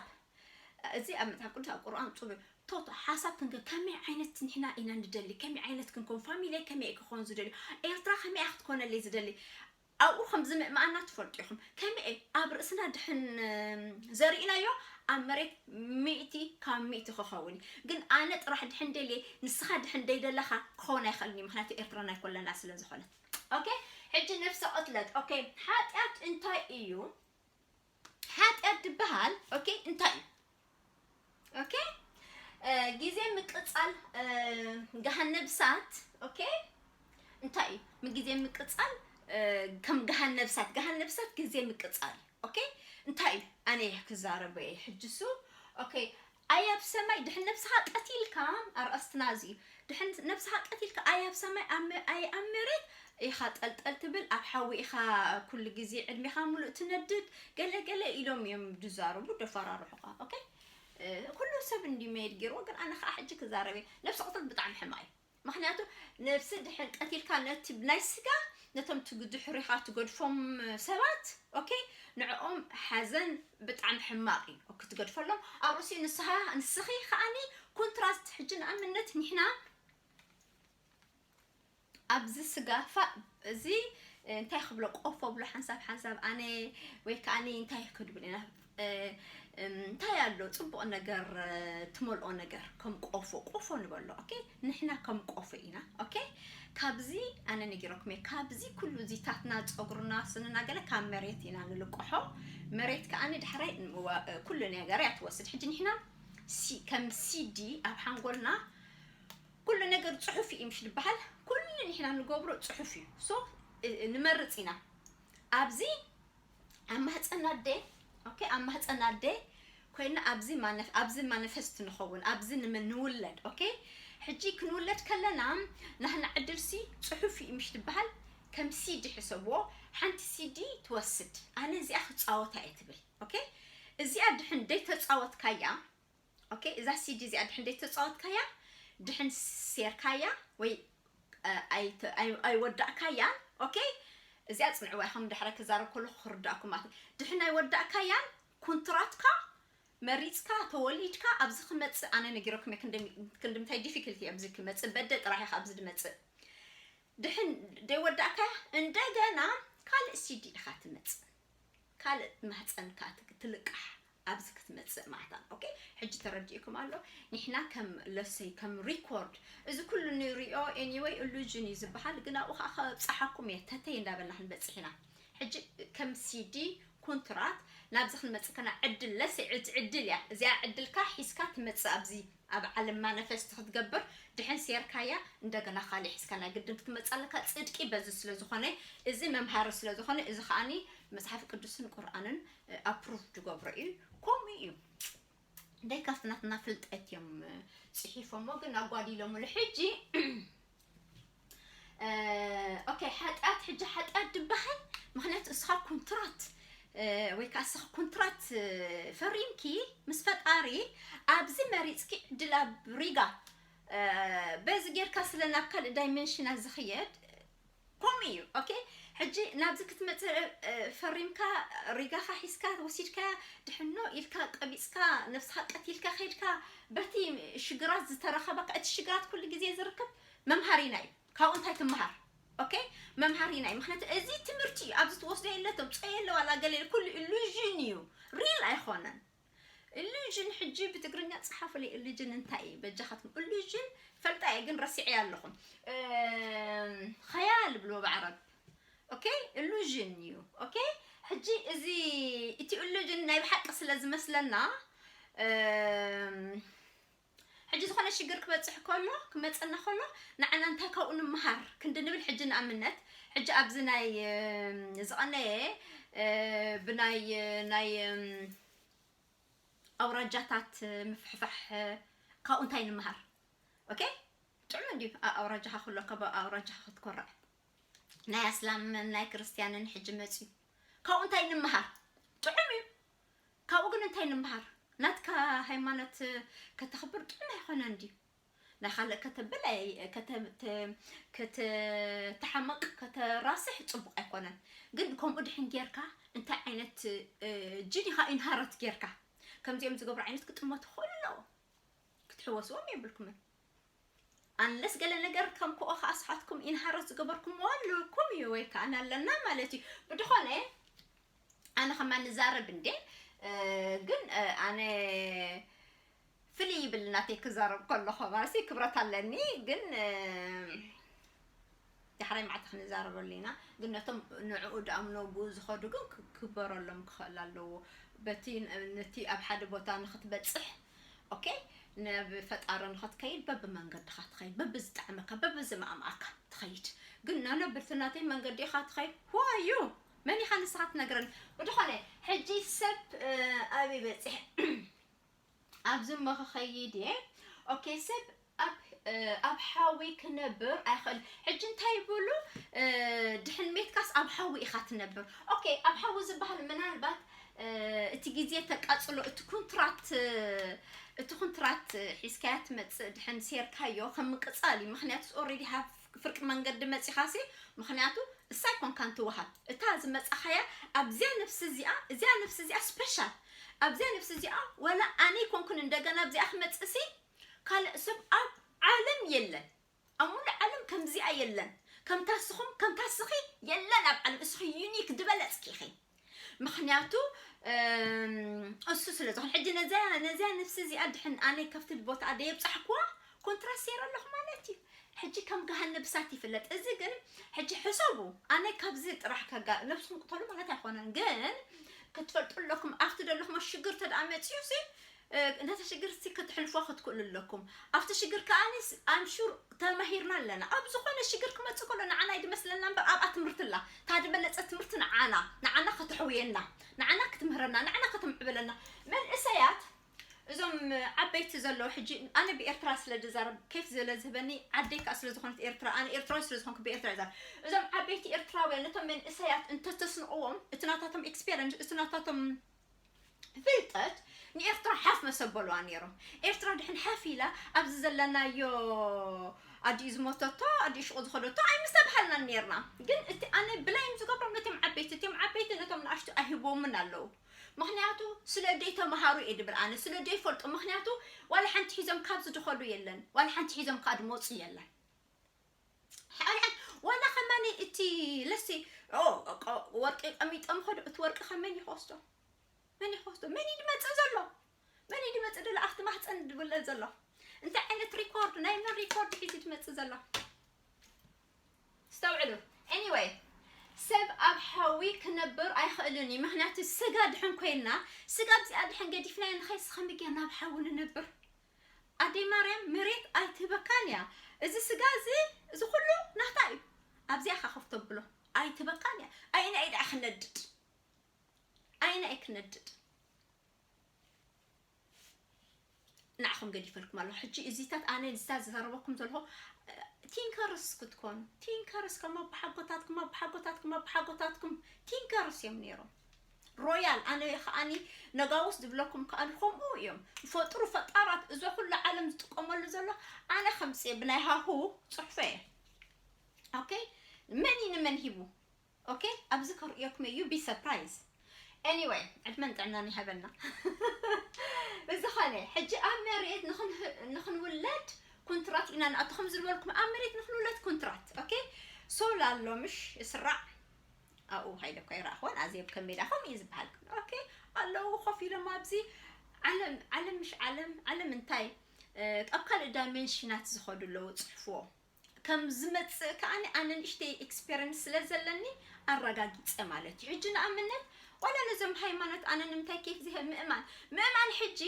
እዚ ኣብ መጽሓፍ ቅዱስ ኣብ ቁርኣን ጽሩ ቶት ሓሳብ ክንከ ከመይ ዓይነት ንሕና ኢና ንደሊ ከመይ ዓይነት ክንኮን ፋሚሊይ ከመይ ክኾን ዝደልዩ ኤርትራ ከመይ ክትኮነለይ ዝደሊ ኣብኡ ከምዚ ምእማኣና ትፈልጡ ኢኹም ከመይ ኣብ ርእስና ድሕን ዘሪእናዮ ኣብ መሬት ሚእቲ ካብ ሚእቲ ክኸውን እዩ ግን ኣነ ጥራሕ ድሕን ደልየ ንስኻ ድሕን ደይደለኻ ክኸውን ኣይኽእልን እዩ ምክንያቱ ኤርትራ ናይ ኮለና ስለ ዝኾነት ኦኬ ሕጂ ነፍሰ ቅትለት ኦኬ ሓጢኣት እንታይ እዩ ሓጢኣት ድበሃል ኦኬ እንታይ እዩ ኦኬ ግዜ ምቅጻል ገሃነብ ሳት ኦኬ እንታይ እዩ ምግዜ ምቅጻል ከም ገሃነብ ሳት ገሃነብ ሳት ግዜ ምቅጻል ኦኬ እንታይ እዩ ኣነ እየ ክዛረበ እየ ሕጅሱ ኦኬ ኣይ ኣብ ሰማይ ድሕን ነብስኻ ቀቲልካ ኣርእስትና እዚ እዩ ድሕንት ነብስኻ ቀቲልካ ኣይ ኣብ ሰማይ ኣይ ኣብ መሬት ኢኻ ጠልጠል ትብል ኣብ ሓዊ ኢኻ ኩሉ ግዜ ዕድሜኻ ሙሉእ ትነድድ ገለ ገለ ኢሎም እዮም ድዛረቡ ደፋራርሑኻ ኦኬ ኩሉ ሰብ እንዲ መይድ ጌርዎ ግን ኣነ ከዓ ሕጂ ክዛረብ እየ ነብሲ ቅትለት ብጣዕሚ ሕማቅ እዩ ምክንያቱ ነብሲ ድሕን ቀቲልካ ነቲ ናይ ስጋ ነቶም ድሕሪኻ ትገድፎም ሰባት ኦኬ ንዕኦም ሓዘን ብጣዕሚ ሕማቅ እዩ ኦኬ ትገድፈሎም ኣብ ርእሲኡ ንስኻ ንስኺ ከኣኒ ኮንትራስት ሕጂ ንኣብነት ንሕና ኣብዚ ስጋፋ እዚ እንታይ ክብሎ ቆፎ ብሎ ሓንሳብ ሓንሳብ ኣነ ወይ ከኣኒ እንታይ ክድብል ኢና እንታይ ኣሎ ጽቡቅ ነገር ትመልኦ ነገር ከም ቆፎ ቆፎ ንበሎ ኦኬ ንሕና ከም ቆፎ ኢና ኦኬ ካብዚ ኣነ ነጊረኩም እየ ካብዚ ኩሉ እዚታትና ጸጉርና ስንና ገለ ካብ መሬት ኢና ንልቅሖ መሬት ከኣ ንዳሕራይ ኩሉ ነገር እያ ትወስድ ሕጂ ንሕና ከም ሲዲ ኣብ ሓንጎልና ኩሉ ነገር ጽሑፍ እዩ ምሽ ዝበሃል ኩሉ ንሕና ንገብሮ ጽሑፍ እዩ ሶ ንመርጽ ኢና ኣብዚ ኣብ ማህጸን ኣደይ ኦኬ ኣብ ማህጸን ኣደይ ኮይና ኣብዚ ማነፍ ኣብዚ ማኒፈስት ንኸውን ኣብዚ ንምን ንውለድ ኦኬ ሕጂ ክንውለድ ከለና ናህና ዕድልሲ ጽሑፍ እዩ ምሽ ትበሃል ከም ሲዲ ሕሰብዎ ሓንቲ ሲዲ ትወስድ ኣነ እዚኣ ክጻወታ እየ ትብል ኦኬ እዚኣ ድሕን ደይ ተጻወትካያ ኦኬ እዛ ሲዲ እዚኣ ድሕን ዘይተጻወትካያ ድሕን ሴርካያ ወይ ኣይወዳእካያን ኦኬ እዚኣ ጽንዕዋ ኢኹም ድሕረ ክዛረብ ከለኹ ክርዳእኩም ማለት ድሕን ኣይወዳእካያን ኩንትራትካ መሪጽካ ተወሊድካ ኣብዚ ክመጽእ ኣነ ነጊረኩም እየ ክንድምታይ ዲፊክልቲ ኣብዚ ክመጽእ በደ ጥራሕ ኢኻ ኣብዚ ድመጽእ ድሕን ደይወዳእካ እንደገና ካልእ ሲዲ ኢኻ ትመጽእ ካልእ ማህፀንካ ትልቃሕ ኣብዚ ክትመጽእ ማህታን ኦኬ ሕጂ ተረዲኡኩም ኣሎ ኒሕና ከም ለሰይ ከም ሪኮርድ እዚ ኩሉ ንሪኦ ኤኒወይ እሉጅን እዩ ዝበሃል ግን ኣብኡ ከዓ ከብጽሓኩም እየ ተተይ እንዳበልና ክንበጽሕ ኢና ሕጂ ከም ሲዲ ኩንትራት ናብዚ ክንመጽእ ከና ዕድል ለሰይ ዕድ ዕድል እያ እዚኣ ዕድልካ ሒዝካ ትመጽእ ኣብዚ ኣብ ዓለም ማነፈስት ክትገብር ድሕን ሴርካያ እንደገና ካሊእ ሒዝካ ናይ ግድን ክትመጽእ ኣለካ ጽድቂ በዚ ስለ ዝኾነ እዚ መምሃሪ ስለ ዝኾነ እዚ ከዓኒ መጽሓፍ ቅዱስን ቁርኣንን ኣፕሩቭ ትገብሮ እዩ ከምኡ እዩ ደይካስ ናትና ፍልጠት እዮም ፅሒፎሞ ግን ኣጓዲሎምሉ ሕጂ ኦኬ ሓጢኣት ሕጂ ሓጢኣት ድበሃል ምክንያቱ እስኻ ኮንትራት ወይ ከዓ እስኻ ኮንትራት ፈሪምኪ ምስ ፈጣሪ ኣብዚ መሪፅኪ ዕድል ኣብ ሪጋ በዚ ጌርካ ስለ ናብ ካልእ ዳይሜንሽና ዝኽየድ ኮምኡ እዩ ኦኬ ሕጂ ናብዚ ክትመጽእ ፈሪምካ ሪጋኻ ሒዝካ ወሲድካያ ድሕኖ ኢልካ ቀቢጽካ ነብስኻ ቀቲልካ ከድካ በቲ ሽግራት ዝተረኸበካ እቲ ሽግራት ኩሉ ግዜ ዝርከብ መምሃሪና እዩ ካብኡ እንታይ ትምሃር ኦኬ መምሃሪና እዩ ምክንያቱ እዚ ትምህርቲ እዩ ኣብዚ ትወስዶ የለቶም ጸ የለ ዋላ ገለ ኩሉ ኢሉዥን እዩ ሪል ኣይኾነን እሉዥን ሕጂ ብትግርኛ ጽሓፉለይ እሉዥን እንታይ እዩ በጃኻትኩም እሉዥን ፈልጣ እየ ግን ረሲዐያ ኣለኹ ኸያል ብሎ ብዓረብ ኦኬ እሉዥን እዩ ኦኬ ሕጂ እዚ እቲ እሉዥን ናይ ብሓቂ ስለ ዝመስለና ሕጂ ዝኾነ ሽግር ክበጽሕ ከሎ ክመጸና ከሎ ንዓና እንታይ ካብኡ ንምሃር ክንዲ ንብል ሕጂ ንኣምነት ሕጂ ኣብዚ ናይ ዝቐነየ ብናይ ናይ ኣውራጃታት ምፍሕፋሕ ካብኡ እንታይ ንምሃር ኦኬ ጥዑም እንዲዩ ኣውራጃኻ ክሎ ካብ ኣውራጃኻ ክትኮርዕ ናይ ኣስላምን ናይ ክርስትያንን ሕጂ መጽዩ ካብኡ እንታይ ንምሃር ጥዑም እዩ ካብኡ ግን እንታይ ንምሃር ናትካ ሃይማኖት ከተኽብር ጥዑም ኣይኾነን ድዩ ናይ ካልእ ከተብል ከተተሓመቅ ከተራስሕ ጽቡቅ ኣይኮነን ግን ከምኡ ድሕን ጌርካ እንታይ ዓይነት ጅን ኢኻ ኢንሃረት ጌርካ ከምዚኦም ዝገብሩ ዓይነት ክጥመቱ ክኽእሉ ኣለዎ ክትሕወስዎም የብልኩምን ኣንለስ ገለ ነገር ከም ኮኦ ከኣ ስኻትኩም ኢንሃረት ዝገበርኩምዎ ኣለኩም እዩ ወይ ከኣ ኣለና ማለት እዩ ብድኾነ ኣነ ከማን ንዛረብ እንዴ ግን ኣነ ፍልይ ይብል ናተይ ክዛረብ ከለኹ ማለሲ ክብረት ኣለኒ ግን ዳሕራይ መዓልቲ ክንዛረበሉ ኢና ግን ነቶም ንዕኡ ድኣምኖጉ ዝኸዱ ግን ክግበረሎም ክኸእል ኣለዎ በቲ ነቲ ኣብ ሓደ ቦታ ንኽትበጽሕ ኦኬ ናብ ፈጣሪ ንኽትከይድ በቢ መንገድኻ ትኸይድ በቢ ዝጣዕመካ በቢ ዝማእማኣካ ትኸይድ ግን ኖኖ ብቲ ናተይ መንገዲ ኢኻ ትኸይድ who are you መን ኢኻ ንስኻ ትነግረኒ ብድኾነ ሕጂ ሰብ ኣበይ በጺሕ ኣብዚ እሞ ክኸይድ እየ ኦኬ ሰብ ኣብ ሓዊ ክነብር ኣይኽእል ሕጂ እንታይ ይብሉ ድሕን ሜትካስ ኣብ ሓዊ ኢኻ ትነብር ኦኬ ኣብ ሓዊ ዝበሃል ምናልባት እቲ ግዜ ተቃጽሎ እቲ ኩንትራት እቲ ኩንትራት ሒዝካያ ትመጽእ ድሕን ሴርካዮ ከም ምቅጻል እዩ ምክንያቱ ኦልሬዲ ሃቭ ፍርቂ መንገዲ መጺኻሲ ምኽንያቱ እሳ ኣይኮንካን ትወሃብ እታ ዝመጻኻያ ኣብዚያ ነፍሲ እዚኣ እዚያ ነፍሲ እዚኣ ስፔሻል ኣብዚያ ነፍሲ እዚኣ ወላ ኣነ ይኮንኩን እንደገና ኣብዚኣ ክመጽእሲ ካልእ ሰብ ኣብ ዓለም የለን ኣብ ሙሉእ ዓለም ከምዚኣ የለን ከምታ ስኹም ከምታ ስኺ የለን ኣብ ዓለም እስኺ ዩኒክ ድበለጽኪ ኢኺ ምክንያቱ እሱ ስለ ዝኾነ ሕጂ ነዚያ ነዚያ ነፍሲ እዚኣ ድሕን ኣነ ከፍትል ቦታኣ ደየብጻሕኩዋ ኮንትራት ሴረ ኣለኹ ማለት እዩ ሕጂ ከም ገሃነብ እሳት ይፍለጥ እዚ ግን ሕጂ ሕሰቡ ኣነ ካብዚ ጥራሕ ከጋ ነብስኩም ቅተሉ ማለት ኣይኮነን ግን ክትፈልጡ ኣለኩም ኣብቲ ዘለኹሞ ሽግር ተደኣ መጺኡ ሲ ነቲ ሽግር እስቲ ክትሕልፎ ክትክእሉ ኣለኩም ኣብቲ ሽግር ከኣ ኣም ሹር ተማሂርና ኣለና ኣብ ዝኮነ ሽግር ክመጽእ ከሎ ንዓና ይድመስለና እምበር ኣብኣ ትምህርቲ ኣላ እታ ድበለጸት ትምህርቲ ንዓና ንዓና ከተሕውየና ንዓና ክትምህረና ንዓና ከተምዕብለና መንእሰያት እዞም ዓበይቲ ዘለዉ ሕጂ ኣነ ብኤርትራ ስለ ድዛረብ ኬፍ ስለ ዝህበኒ ዓደይ ከዓ ስለ ዝኾነት ኤርትራ ኣነ ኤርትራዊ ስለ ዝኾንኩ ብኤርትራ ይዛረብ እዞም ዓበይቲ ኤርትራውያን ነቶም መንእሰያት እንተተስንቕዎም እቲ ናታቶም ኤክስፔሪንስ እቲ ናታቶም ፍልጠት ንኤርትራ ሓፍ መሰበሉዋ ኔሮም ኤርትራ ድሕን ሓፍ ኢላ ኣብዚ ዘለናዮ ኣዲኡ ዝሞተቶ ኣዲኡ ሽቁ ዝኸደቶ ኣይምሰብሃልናን ኔርና ግን እቲ ኣነ ብላይም ዝገብሮም ነቶም ዓበይቲ እቶም ዓበይቲ ነቶም ንኣሽቱ ኣይህቦምን ኣለዉ ምክንያቱ ስለ ደይ ተምሃሩ እየ ድብል ኣነ ስለ ደይ ፈልጡ ምክንያቱ ዋላ ሓንቲ ሒዞም ካብዚ ድኸዱ የለን ዋላ ሓንቲ ሒዞም ካኣ ድመፁ የለን ሕንሕን ዋላ ከማኒ እቲ ለሲ ወርቂ ቀሚጦም ኸዱ እቲ ወርቂ ከ መን ይኸስቶ መን ይኸስቶ መን እዩ ድመፅእ ዘሎ መን እዩ ድመፅእ ደሎ ኣብቲ ማህፀን ድብለ ዘሎ እንታይ ዓይነት ሪኮርድ ናይ መን ሪኮርድ ሒዙ ድመፅእ ዘሎ ስተውዕሉ ኤኒወይ ሰብ ኣብ ሓዊ ክነብር ኣይኽእልን እዩ ምክንያቱ ስጋ ድሕን ኮይንና ስጋ ብዚኣ ድሕን ገዲፍናዮ ንኸይስ ከመይ ጌርና ኣብ ሓዊ ንነብር ኣደይ ማርያም መሬት ኣይትህበካን እያ እዚ ስጋ እዚ እዚ ኩሉ ናታ እዩ ኣብዚኣ እካ ኮፍ ተብሎ ኣይትህበካን እያ ኣየናይ እዩ ደኣ ክነድድ ኣየናይ እዩ ክነድድ ንዓኹም ገዲፈልኩም ኣለኹ ሕጂ እዚታት ኣነ እዚታት ዝዘረበኩም ዘለኹ ቲንከርስ ክትኮኑ ቲንከርስ ከም ኣቦሓጎታትኩም ኣቦሓጎታትኩም ኣቦሓጎታትኩም ቲንከርስ እዮም ነይሮም ሮያል ኣነ ከኣኒ ነጋውስ ዝብለኩም ከኣኒ ከምኡ እዮም ዝፈጥሩ ፈጣራት እዞ ኩሉ ዓለም ዝጥቀመሉ ዘሎ ኣነ ከምፅእ ብናይ ሃሁ ፅሑፈ እየ ኦኬ መን እዩ ንመን ሂቡ ኦኬ ኣብዚ ከርእየኩም እዩ ቢ ሰርፕራይዝ ኤኒዌይ ዕድመን ጥዕናን ይሃበና ብዝኾነ ሕጂ ኣብ መሬት ንክንውለድ ኩንትራት ኢና ንኣቶ ከም ዝበልኩም ኣብ መሬት ንክንውለድ ኩንትራት ኦኬ ሶላር ሎምሽ እስራዕ ኣብኡ ከይደ እኳ ኣይረኣኹዎን ኣዜብ ከም ሜዳኹም እዩ ዝበሃል ግን ኦኬ ኣለዉ ኮፍ ኢሎም ኣብዚ ዓለም ዓለም ምሽ ዓለም ዓለም እንታይ ኣብ ካልእ ዳይሜንሽናት ዝኸዱ ኣለዉ ፅሕፍዎ ከም ዝመፅእ ከዓኒ ኣነ ንእሽተይ ኤክስፔሪንስ ስለ ዘለኒ ኣረጋጊፀ ማለት እዩ ሕጂ ንኣብነት ዋላ ነዞም ሃይማኖት ኣነ ንምንታይ ኬፍ ዝሀብ ምእማን ምእማን ሕጂ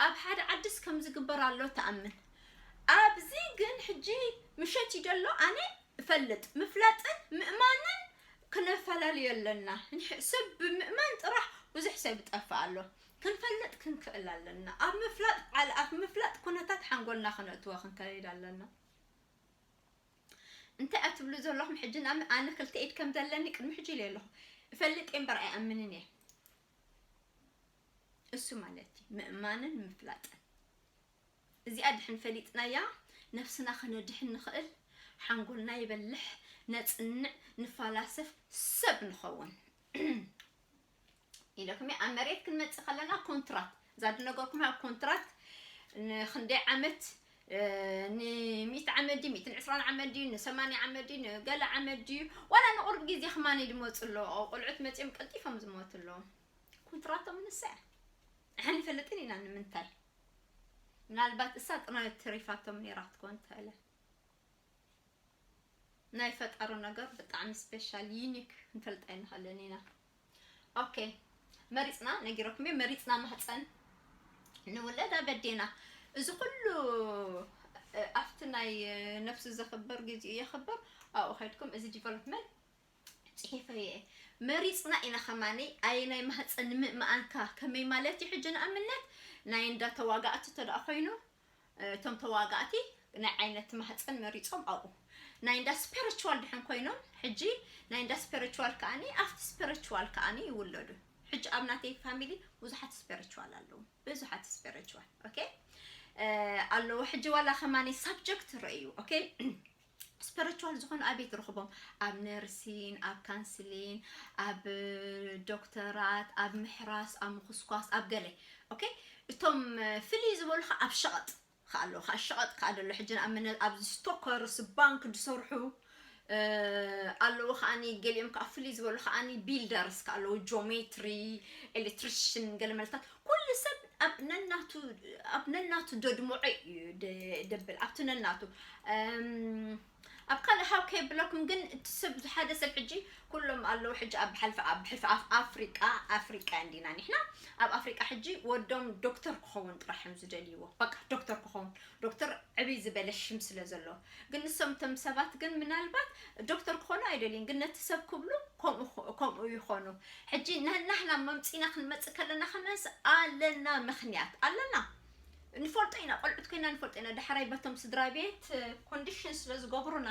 ኣብ ሓደ ዓድስ ከም ዝግበር ኣሎ ተኣምን ኣብዚ ግን ሕጂ ምሸት እዩ ደሎ ኣነ እፈልጥ ምፍላጥን ምእማንን ክነፈላልዮ ኣለና እንሕ ሰብ ብምእማን ጥራሕ ብዙሕ ሰብ ይጠፍእ ኣሎ ክንፈልጥ ክንክእል ኣለና ኣብ ምፍላጥ ዓል ኣብ ምፍላጥ ኩነታት ሓንጎልና ክነእትዎ ክንከይድ ኣለና እንታይ ኣትብሉ ዘለኹም ሕጂ ናብ ኣነ ክልተ ኢድ ከም ዘለኒ ቅድሚ ሕጂ ኢለ ኣለኹ እፈልጥ እየ እምበር ኣይኣምንን እየ እሱ ማለት እዩ ምእማንን ምፍላጥን እዚኣ ድሕን ፈሊጥናያ ነብስና ከነድሕን ንኽእል ሓንጎልና ይበልሕ ነጽንዕ ንፋላሰፍ ሰብ ንኸውን ኢለኩም እየ ኣብ መሬት ክንመጽእ ከለና ኮንትራት እዛ ድነገርኩም ኣብ ኮንትራት ንክንደይ ዓመት ንሚእቲ ዓመት ድዩ ሚእትን ዕስራን ዓመት ድዩ ንሰማንያ ዓመት ድዩ ንገለ ዓመት ድዩ ዋላ ንቑርብ ግዜ ክማን ድመፁ ኣለዎ ቆልዑት መፂኦም ቀልጢፎም ዝሞቱ ኣለዎ ኮንትራቶም ንሳ እያ ንፈልጥን ኢና ንምንታይ ምናልባት እሳ ጥራይ ተሪፋቶም ኔራ ክትኮን ትክእለ ናይ ፈጣሩ ነገር ብጣዕሚ ስፔሻል ዩኒክ ክንፈልጥ ኣይንክእልን ኢና ኦኬ መሪጽና ነጊረኩም እየ መሪጽና ማህፀን ንውለድ ኣበዴና እዚ ኩሉ ኣብቲ ናይ ነፍሲ ዘኽብር ግዚኡ የኽብር ኣብኡ ከድኩም እዚ ዲቨሎፕመንት ጺሒፈዮ እየ መሪጽና ኢና ከማን ኣየናይ ማህጸን ንምእምኣንካ ከመይ ማለት እዩ ሕጂ ንኣብነት ናይ እንዳ ተዋጋእቲ እንተ ኮይኑ እቶም ተዋጋእቲ ናይ ዓይነት ማህጸን መሪጾም ኣብኡ ናይ እንዳ ስፒሪቹዋል ድሕን ኮይኖም ሕጂ ናይ እንዳ ስፒሪቹዋል ከኣኒ ኣብቲ ስፒሪቹዋል ከኣኒ ይውለዱ ሕጂ ኣብ ናተይ ፋሚሊ ብዙሓት ስፒሪቹዋል ኣለዉ ብዙሓት ስፒሪቹዋል ኦኬ ኣለዎ ሕጂ ዋላ ከማኒ ሳብጀክት ረእዩ ኦኬ ስፐረችዋል ዝኾኑ ኣበይ ትረኽቦም ኣብ ነርሲን ኣብ ካንስሊን ኣብ ዶክተራት ኣብ ምሕራስ ኣብ ምኹስኳስ ኣብ ገለ ኦኬ እቶም ፍልይ ዝበሉ ከዓ ኣብ ሸቐጥ ከዓ ኣለዉ ከዓ ሸቐጥ ከዓ ደሎ ሕጂ ንኣብነት ኣብዚ ስቶከርስ ባንክ ዝሰርሑ ኣለዉ ከዓኒ ገሊኦም ከዓ ፍልይ ዝበሉ ከዓኒ ቢልደርስ ከዓ ኣለዉ ጆሜትሪ ኤሌክትሪሽን ገለ መልታት ኩሉ ሰብ ኣብ ነናቱ ኣብ ነናቱ ደድምዖ እዩ ደብል ኣብቲ ነናቱ ኣብ ካልእ ሃው ከየብለኩም ግን እቲ ሰብ ሓደ ሰብ ሕጂ ኩሎም ኣለዉ ሕጂ ኣብ ሓልፊ ኣብ ሕልፊ ኣብ ኣፍሪቃ ኣፍሪቃ እንዲና ንሕና ኣብ ኣፍሪቃ ሕጂ ወዶም ዶክተር ክኸውን ጥራሕ እዮም ዝደልይዎ በቃ ዶክተር ክኸውን ዶክተር ዕብይ ዝበለ ሽም ስለ ዘለዎ ግን ንሶም እቶም ሰባት ግን ምናልባት ዶክተር ክኾኑ ኣይደልዩን ግን ነቲ ሰብ ክብሉ ከምኡ ከምኡ ይኾኑ ሕጂ ንሕና መምጺና ክንመጽእ ከለና ከመንስ ኣለና ምክንያት ኣለና ንፈልጦ ኢና ቆልዑት ኮይና ንፈልጦ ኢና ዳሕራይ በቶም ስድራ ቤት ኮንዲሽን ስለ ዝገብሩና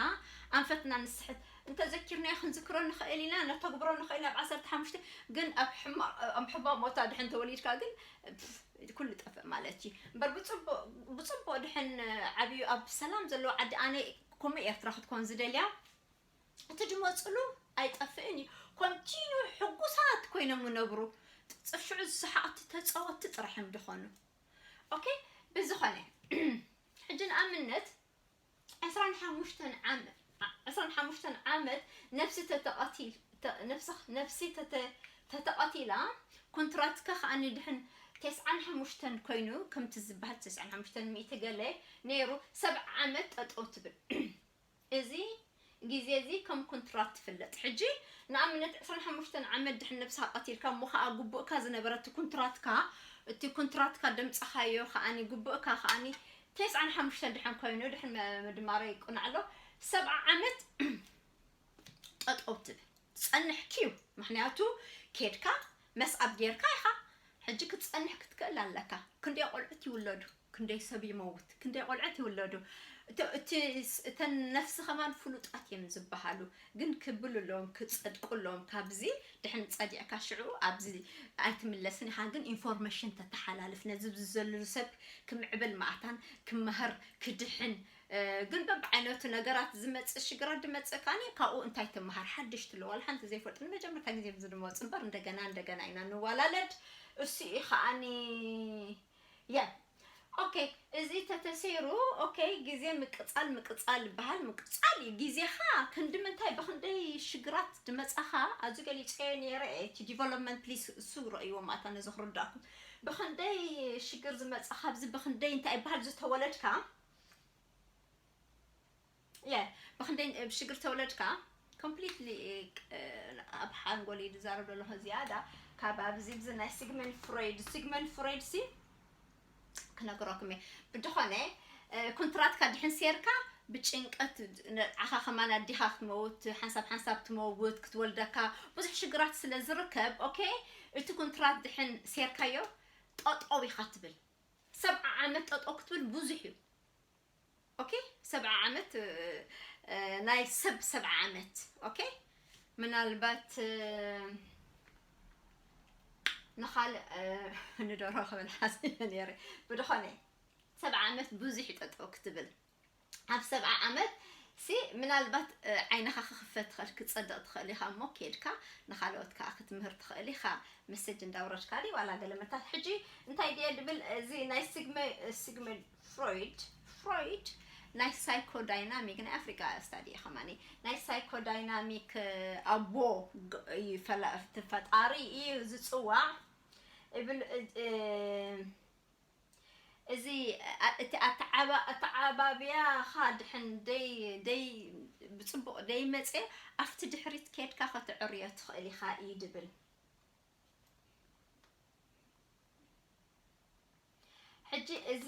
ኣንፈትና ንስሕት እንተዘኪርናዮ ክንዝክሮ ንኽእል ኢና ነተግብሮ ንኽእል ኢና ኣብ ዓሰርተ ሓሙሽተ ግን ኣብ ሕማቕ ኣብ ሕማቕ ቦታ ድሕን ተወሊድካ ግን እቲ ኩሉ ጠፍእ ማለት እዪ እምበር ብጽቡቅ ብጽቡቅ ድሐን ዓብዩ ኣብ ሰላም ዘለዎ ዓዲ ኣነ ኮሙኡ ኤርትራ ክትኮን ዝደልያ እቲ ድመጹሉ ኣይጠፍእን እዩ ኮንቲንዩ ሕጉሳት ኮይኖም ምነብሩ ጽፍዑ ዝሳሓቅቲ ተጻወቲ ጥራሕ እዮም ድኮኑ ኦኬ ብዝኮነ ሕጂ ንኣምነት ዕስራን ሓሙሽተን ዓመት ዕስራን ሓሙሽተን ዓመት ነፍሲ ተተቐቲል ነፍሲ ነፍሲ ተተ ተተቐቲላ ኮንትራትካ ከኣ ንድሕን ተስዓን ሓሙሽተን ኮይኑ ከምቲ ዝበሃል ተስዓን ሓሙሽተን ሚእቲ ገለ ነይሩ ሰብዓ ዓመት ጠጠው ትብል እዚ ግዜ እዚ ከም ኩንትራት ትፍለጥ ሕጂ ንኣብነት ዕስራን ሓሙሽተን ዓመት ድሕን ነብስካ ቀቲልካ እሞ ከኣ ጉቡእካ ዝነበረ እቲ ኩንትራትካ እቲ ኩንትራትካ ደምጽካዮ ከኣ ጉቡእካ ከኣ ቴስዓን ሓሙሽተን ድሕን ኮይኑ ድሕን ምድማረ ይቁናዕ ኣሎ ሰብዓ ዓመት ጠጠው ትብል ትጸንሕ ኪው ምክንያቱ ኬድካ መስዓብ ጌርካ ኢኻ ሕጂ ክትጸንሕ ክትክእል ኣለካ ክንደይ ቆልዑት ይውለዱ ክንደይ ሰብ ይመውት ክንደይ ቆልዑት ይውለዱ እቲ እተን ነፍሲ ከማን ፍሉጣት እየን ዝበሃሉ ግን ክብልሎም ክጸድቁሎም ካብዚ ድሕን ጸዲዕካ ሽዑ ኣብዚ ኣይትምለስን ኢኻ ግን ኢንፎርሜሽን ተተሓላልፍ ነዚ ዝዘልሉ ሰብ ክምዕብል ማዕታን ክመሃር ክድሕን ግን በብዓይነቱ ነገራት ዝመጽእ ሽግራት ድመጽእ ከኣኒ ካብኡ እንታይ ትመሃር ሓድሽ ትለ ዋላ ሓንቲ ዘይፈልጥ ንመጀመርታ ግዜ ብዚ ድመወጽእ እምበር እንደገና እንደገና ኢና ንዋላለድ እሱ እዩ ከኣኒ የ ኦኬ እዚ ተተሰይሩ ኦኬ ግዜ ምቅጻል ምቅጻል ይበሃል ምቅጻል እዩ ግዜኻ ክንዲ ምንታይ ብክንደይ ሽግራት ድመጻኻ ኣብዚ ገሊጸዮ ነይረ እቲ ዲቨሎፕመንት ፕሊስ እሱ ረእይዎ ማታ ነዚ ክርዳእኩም ብክንደይ ሽግር ዝመጻኻ ኣብዚ ብክንደይ እንታይ ይበሃል ዝተወለድካ የ ብክንደይ ብሽግር ተወለድካ ኮምፕሊትሊ ኣብ ሓንጎል እዩ ዝዛረብ ዘለኹ ዝያዳ ካብ ኣብዚ ብዚ ናይ ሲግመን ፍሮይድ ሲግመን ፍሮይድ ሲ ክነግረኩም እየ ብድኾነ ኩንትራትካ ድሕን ሴርካ ብጭንቀት ንዓኻ ከማን ኣዲኻ ክትመውት ሓንሳብ ሓንሳብ ትመውት ክትወልደካ ብዙሕ ሽግራት ስለ ዝርከብ ኦኬ እቲ ኩንትራት ድሕን ሴርካዮ ጠጠው ኢኻ ትብል ሰብዓ ዓመት ጠጠው ክትብል ብዙሕ እዩ ኦኬ ሰብዓ ዓመት ናይ ሰብ ሰብዓ ዓመት ኦኬ ምናልባት ንኻልእ ንደሮ ክብል ሓሲበ ነይረ ብድኾነ ሰብዓ ዓመት ብዙሕ እዩ ጠጠው ክትብል ኣብ ሰብዓ ዓመት ሲ ምናልባት ዓይንኻ ክኽፈት ትኽእል ክትጸድቕ ትኽእል ኢኻ እሞ ኬድካ ንኻልኦት ከኣ ክትምህር ትኽእል ኢኻ መሰጅ እንዳውረድካ ድዩ ዋላ ገለ መታት ሕጂ እንታይ ድየ ድብል እዚ ናይ ሲግመ ሲግመ ፍሮይድ ፍሮይድ ናይ ሳይኮዳይናሚክ ናይ ኣፍሪቃ ስታዲ እዩ ከማኒ ናይ ሳይኮዳይናሚክ ኣቦ ፈጣሪ እዩ ዝጽዋዕ እብል እዚ እቲ ኣተዓባብያኻ ድሕን ደይ ብጽቡቕ ደይመጸ ኣብቲ ድሕሪት ኬድካ ከተዕርዮ ትኽእል ኢኻ እዩ ድብል። ሕጂ እዚ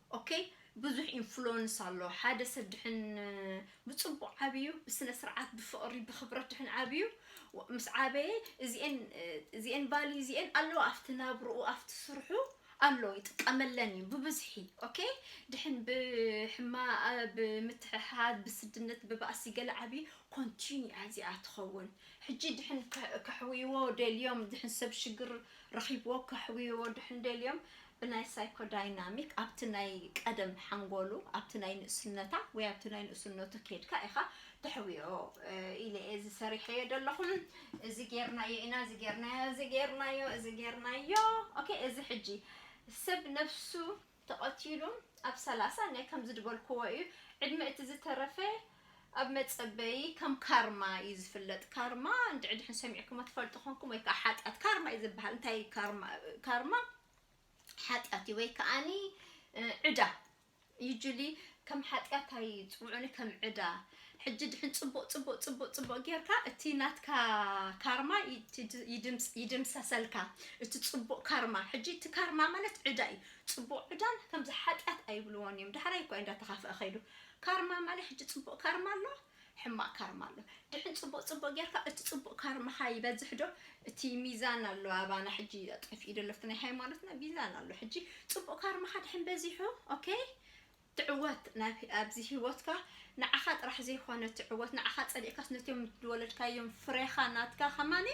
ኦኬ ብዙሕ ኢንፍሎንስ ኣሎ ሓደ ሰብ ድሕን ብጽቡቅ ዓብዩ ብስነ ስርዓት ብፍቅሪ ብክብረት ድሕን ዓብዩ ምስ ዓበየ እዚኤን እዚኤን ቫልዩ እዚኤን ኣለዋ ኣብቲ ናብርኡ ኣብቲ ስርሑ ኣሎ ይጥቀመለን እዩ ብብዝሒ ኦኬ ድሕን ብሕማ ብምትሕሓዝ ብስድነት ብባእሲ ገለ ዓብዩ ኮንቲኒ ኣዚኣ ትኸውን ሕጂ ድሕን ከሕውይዎ ደልዮም ድሕን ሰብ ሽግር ረኺብዎ ከሕውይዎ ድሕን ደልዮም ብናይ ሳይኮዳይናሚክ ኣብቲ ናይ ቀደም ሓንጎሉ ኣብቲ ናይ ንእስነታ ወይ ኣብቲ ናይ ንእስነቱ ኬድካ ኢኻ ተሕውዮ ኢለ እየ እዚ ሰሪሐዮ ዘለኹ እዚ ጌርናዮ ኢና እዚ ጌርናዮ እዚ ጌርናዮ እዚ ጌርናዮ ኦኬ እዚ ሕጂ ሰብ ነብሱ ተቐቲሉ ኣብ ሰላሳ ናይ ከምዚ ድበልክዎ እዩ ዕድመ እቲ ዝተረፈ ኣብ መጸበዪ ከም ካርማ እዩ ዝፍለጥ ካርማ እንድዒ ድሕን ሰሚዕኩሞ ትፈልጡ ኮንኩም ወይ ከኣ ሓጢኣት ካርማ እዩ ዝበሃል እንታይ እዩ ካርማ ካርማ ሓጢኣት እዩ ወይ ከኣኒ ዕዳ ዩጁሊ ከም ሓጢኣት ኣይጽውዑኒ ከም ዕዳ ሕጂ ድሕን ጽቡቕ ጽቡቕ ጽቡቕ ጽቡቕ ጌርካ እቲ ናትካ ካርማ ይድምሰሰልካ እቲ ጽቡቕ ካርማ ሕጂ እቲ ካርማ ማለት ዕዳ እዩ ጽቡቕ ዕዳን ከምዚ ሓጢኣት ኣይብልዎን እዮም ዳሕራይ እኳ እንዳተኻፍአ ኸይዱ ካርማ ማለት ሕጂ ጽቡቅ ካርማ ኣሎ ሕማቅ ካርማ ኣሎ ድሕን ጽቡቅ ጽቡቅ ጌርካ እቲ ጽቡቅ ካርማካ ይበዝሕ ዶ እቲ ሚዛን ኣሎ ኣባና ሕጂ ጠፊኡ ደሎ እቲ ናይ ሃይማኖትና ሚዛን ኣሎ ሕጂ ጽቡቅ ካርማካ ድሕን በዚሑ ok ትዕወት ናብ ኣብዚ ሂወትካ ንዓካ ጥራሕ ዘይኮነ ትዕወት ንዓካ ጸሊእካስ ነቶም ዝወለድካዮም ፍሬካ ናትካ ከማን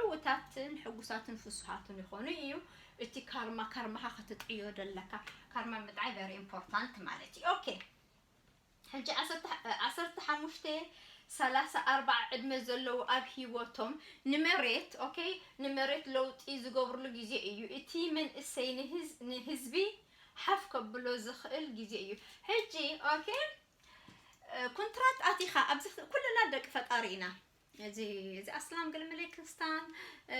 ዕውታትን ሕጉሳትን ፍሱሃትን ይኮኑ ኢዩ እቲ ካርማ ካርማኻ ክትጥዕዮ ደለካ ካርማ ምጥዓይ ቨሪ ኢምፖርታንት ማለት እዩ ኦኬ ሕጂ ዓሰርተ ዓሰርተ ሓሙሽተ ሰላሳ ኣርባዓ ዕድመ ዘለዉ ኣብ ሂወቶም ንመሬት ኦኬ ንመሬት ለውጢ ዝገብርሉ ግዜ እዩ እቲ መንእሰይ ንህዝ ንህዝቢ ሓፍ ከብሎ ዝኽእል ግዜ እዩ ሕጂ ኦኬ ኩንትራት ኣቲኻ ኣብዚ ኩልና ደቂ ፈጣሪ ኢና እዚ እዚ ኣስላም ገለመለ ክርስታን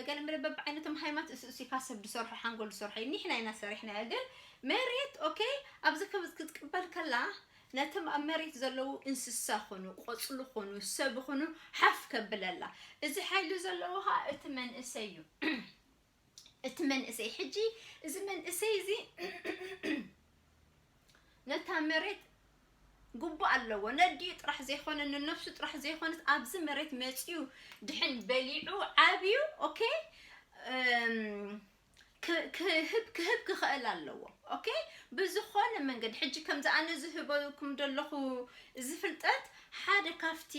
ገለመለ በብዓይነቶም ሃይማኖት እሱ እሱ ካብ ሰብ ዝሰርሖ ሓንጎል ዝሰርሖ እዩ ኒሕና ኢና ሰሪሕናዮ ግን መሬት ኦኬ ኣብዚ ክትቅበል ከላ ነቶም ኣብ መሬት ዘለዉ እንስሳ ኹኑ ቆፅሉ ኹኑ ሰብ ኹኑ ሓፍ ከብለላ እዚ ሓይሊ ዘለዎ ከዓ እቲ መንእሰይ እዩ እቲ መንእሰይ ሕጂ እዚ መንእሰይ እዚ ነታ መሬት ጉቡእ ኣለዎ ነዲኡ ጥራሕ ዘይኮነ ንነብሱ ጥራሕ ዘይኮነት ኣብዚ መሬት መፅዩ ድሕን በሊዑ ዓብዩ ኦኬ ክህብ ክህብ ክኽእል ኣለዎ ኦኬ ብዝኾነ መንገዲ ሕጂ ከምዚ ኣነ ዝህበኩም ዘለኹ እዚ ፍልጠት ሓደ ካብቲ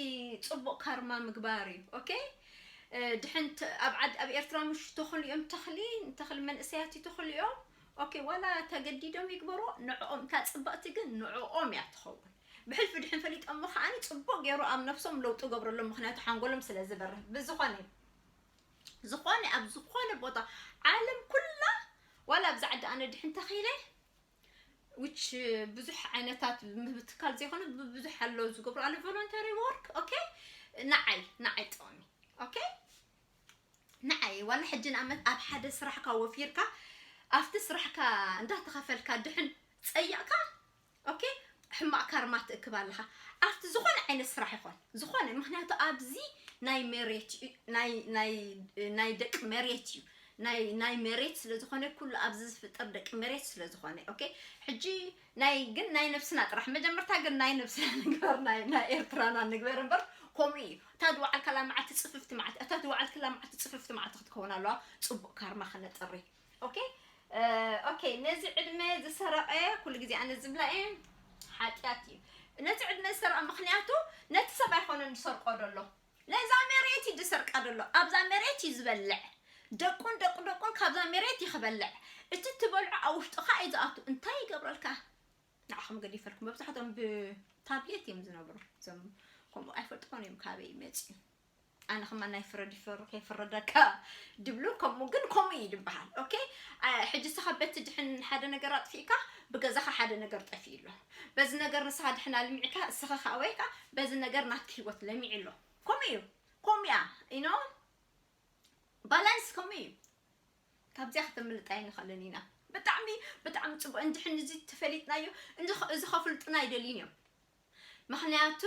ፅቡቕ ካርማ ምግባር እዩ ኦኬ ድሕን ኣብ ዓድ ኣብ ኤርትራ ምሽ ተኽሉ እዮም ተኽሊ ንተኽሊ መንእሰያት ይተኽሉ እዮም ኦኬ ዋላ ተገዲዶም ይግበሮ ንዕኦም እታ ጽብቕቲ ግን ንዕኦም እያ ትኸውን ብሕልፊ ድሕን ፈሊጦሞ ከዓኒ ጽቡቕ ገይሩ ኣብ ነብሶም ለውጢ ገብረሎም ምክንያቱ ሓንጎሎም ስለ ዝበርህ ብዝኾነ ዝኾነ ኣብ ዝኾነ ቦታ ዓለም ኩላ ዋላ ኣብዚ ዓዲ ኣነ ድሕን ተኺለ which ብዙሕ ዓይነታት ምብትካል ዘይኮነ ብዙሕ ኣሎ ዝገብሩ ኣለ ቮለንተሪ ወርክ ኦኬ ንዓይ ንዓይ ጥቕሚ ኦኬ ንዓይ ዋላ ሕጂ ንኣመት ኣብ ሓደ ስራሕካ ወፊርካ ኣብቲ ስራሕካ እንዳተኸፈልካ ድሕን ፀይቕካ ኦኬ ሕማቕ ካርማ ትእክብ ኣለኻ ኣብቲ ዝኾነ ዓይነት ስራሕ ይኾን ዝኾነ ምክንያቱ ኣብዚ ናይ መሬት ናይ ናይ ናይ ደቂ መሬት እዩ ናይ ናይ መሬት ስለ ዝኾነ ኩሉ ኣብዚ ዝፍጠር ደቂ መሬት ስለ ዝኾነ ኦኬ ሕጂ ናይ ግን ናይ ነብስና ጥራሕ መጀመርታ ግን ናይ ነብስና ንግበር ናይ ናይ ኤርትራና ንግበር እምበር ከምኡ እዩ እታ ዝወዓልካላ መዓልቲ ጽፍፍቲ መዓልቲ እታ ዝወዓልክላ መዓልቲ ጽፍፍቲ መዓልቲ ክትከውን ኣለዋ ጽቡቅ ካርማ ከነጥሪ ኦኬ ኦኬ ነዚ ዕድመ ዝሰረቐ ኩሉ ግዜ ኣነ ዝብላ እየ ሓጢኣት እዩ ነቲ ዕድመ ዝሰረቐ ምክንያቱ ነቲ ሰብ ኣይኮነን ዝሰርቆ ደሎ ነዛ መሬት እዩ ዝሰርቃ ዘሎ ኣብዛ መሬት እዩ ዝበልዕ ደቁን ደቁ ደቁን ካብዛ መሬት እዩ ክበልዕ እቲ እትበልዖ ኣብ ውሽጥኻ እዩ ዝኣቱ እንታይ ይገብረልካ ንዓኹም ገዲፈልኩም መብዛሕቶም ብታብሌት እዮም ዝነብሩ እዞም ከምኡ ኣይፈልጥዎን እዮም ካበይ መፅዩ ኣነ ከማ ናይ ፍረድ ይፈሩ ከይፍረደካ ድብሉ ከምኡ ግን ከምኡ እዩ ድበሃል ኦኬ ሕጂ ሰኻ በቲ ድሕን ሓደ ነገር ኣጥፊእካ ብገዛኻ ሓደ ነገር ጠፊኡ ኣሎ በዚ ነገር ንስኻ ድሕና ልሚዕካ እስኻ ካኣ ወይ ካኣ በዚ ነገር ናትኪ ሂወት ለሚዑ ኣሎ ከምኡ እዩ ከምኡ እያ you know balance ከምኡ እዩ ካብዚኣ ከተምልጥ ኣይንኽእልን ኢና ብጣዕሚ ብጣዕሚ ጽቡቅ እንድሕን እዚ ተፈሊጥናዮ እዚ ከፍልጡና ኣይደልዩን እዮም ምክንያቱ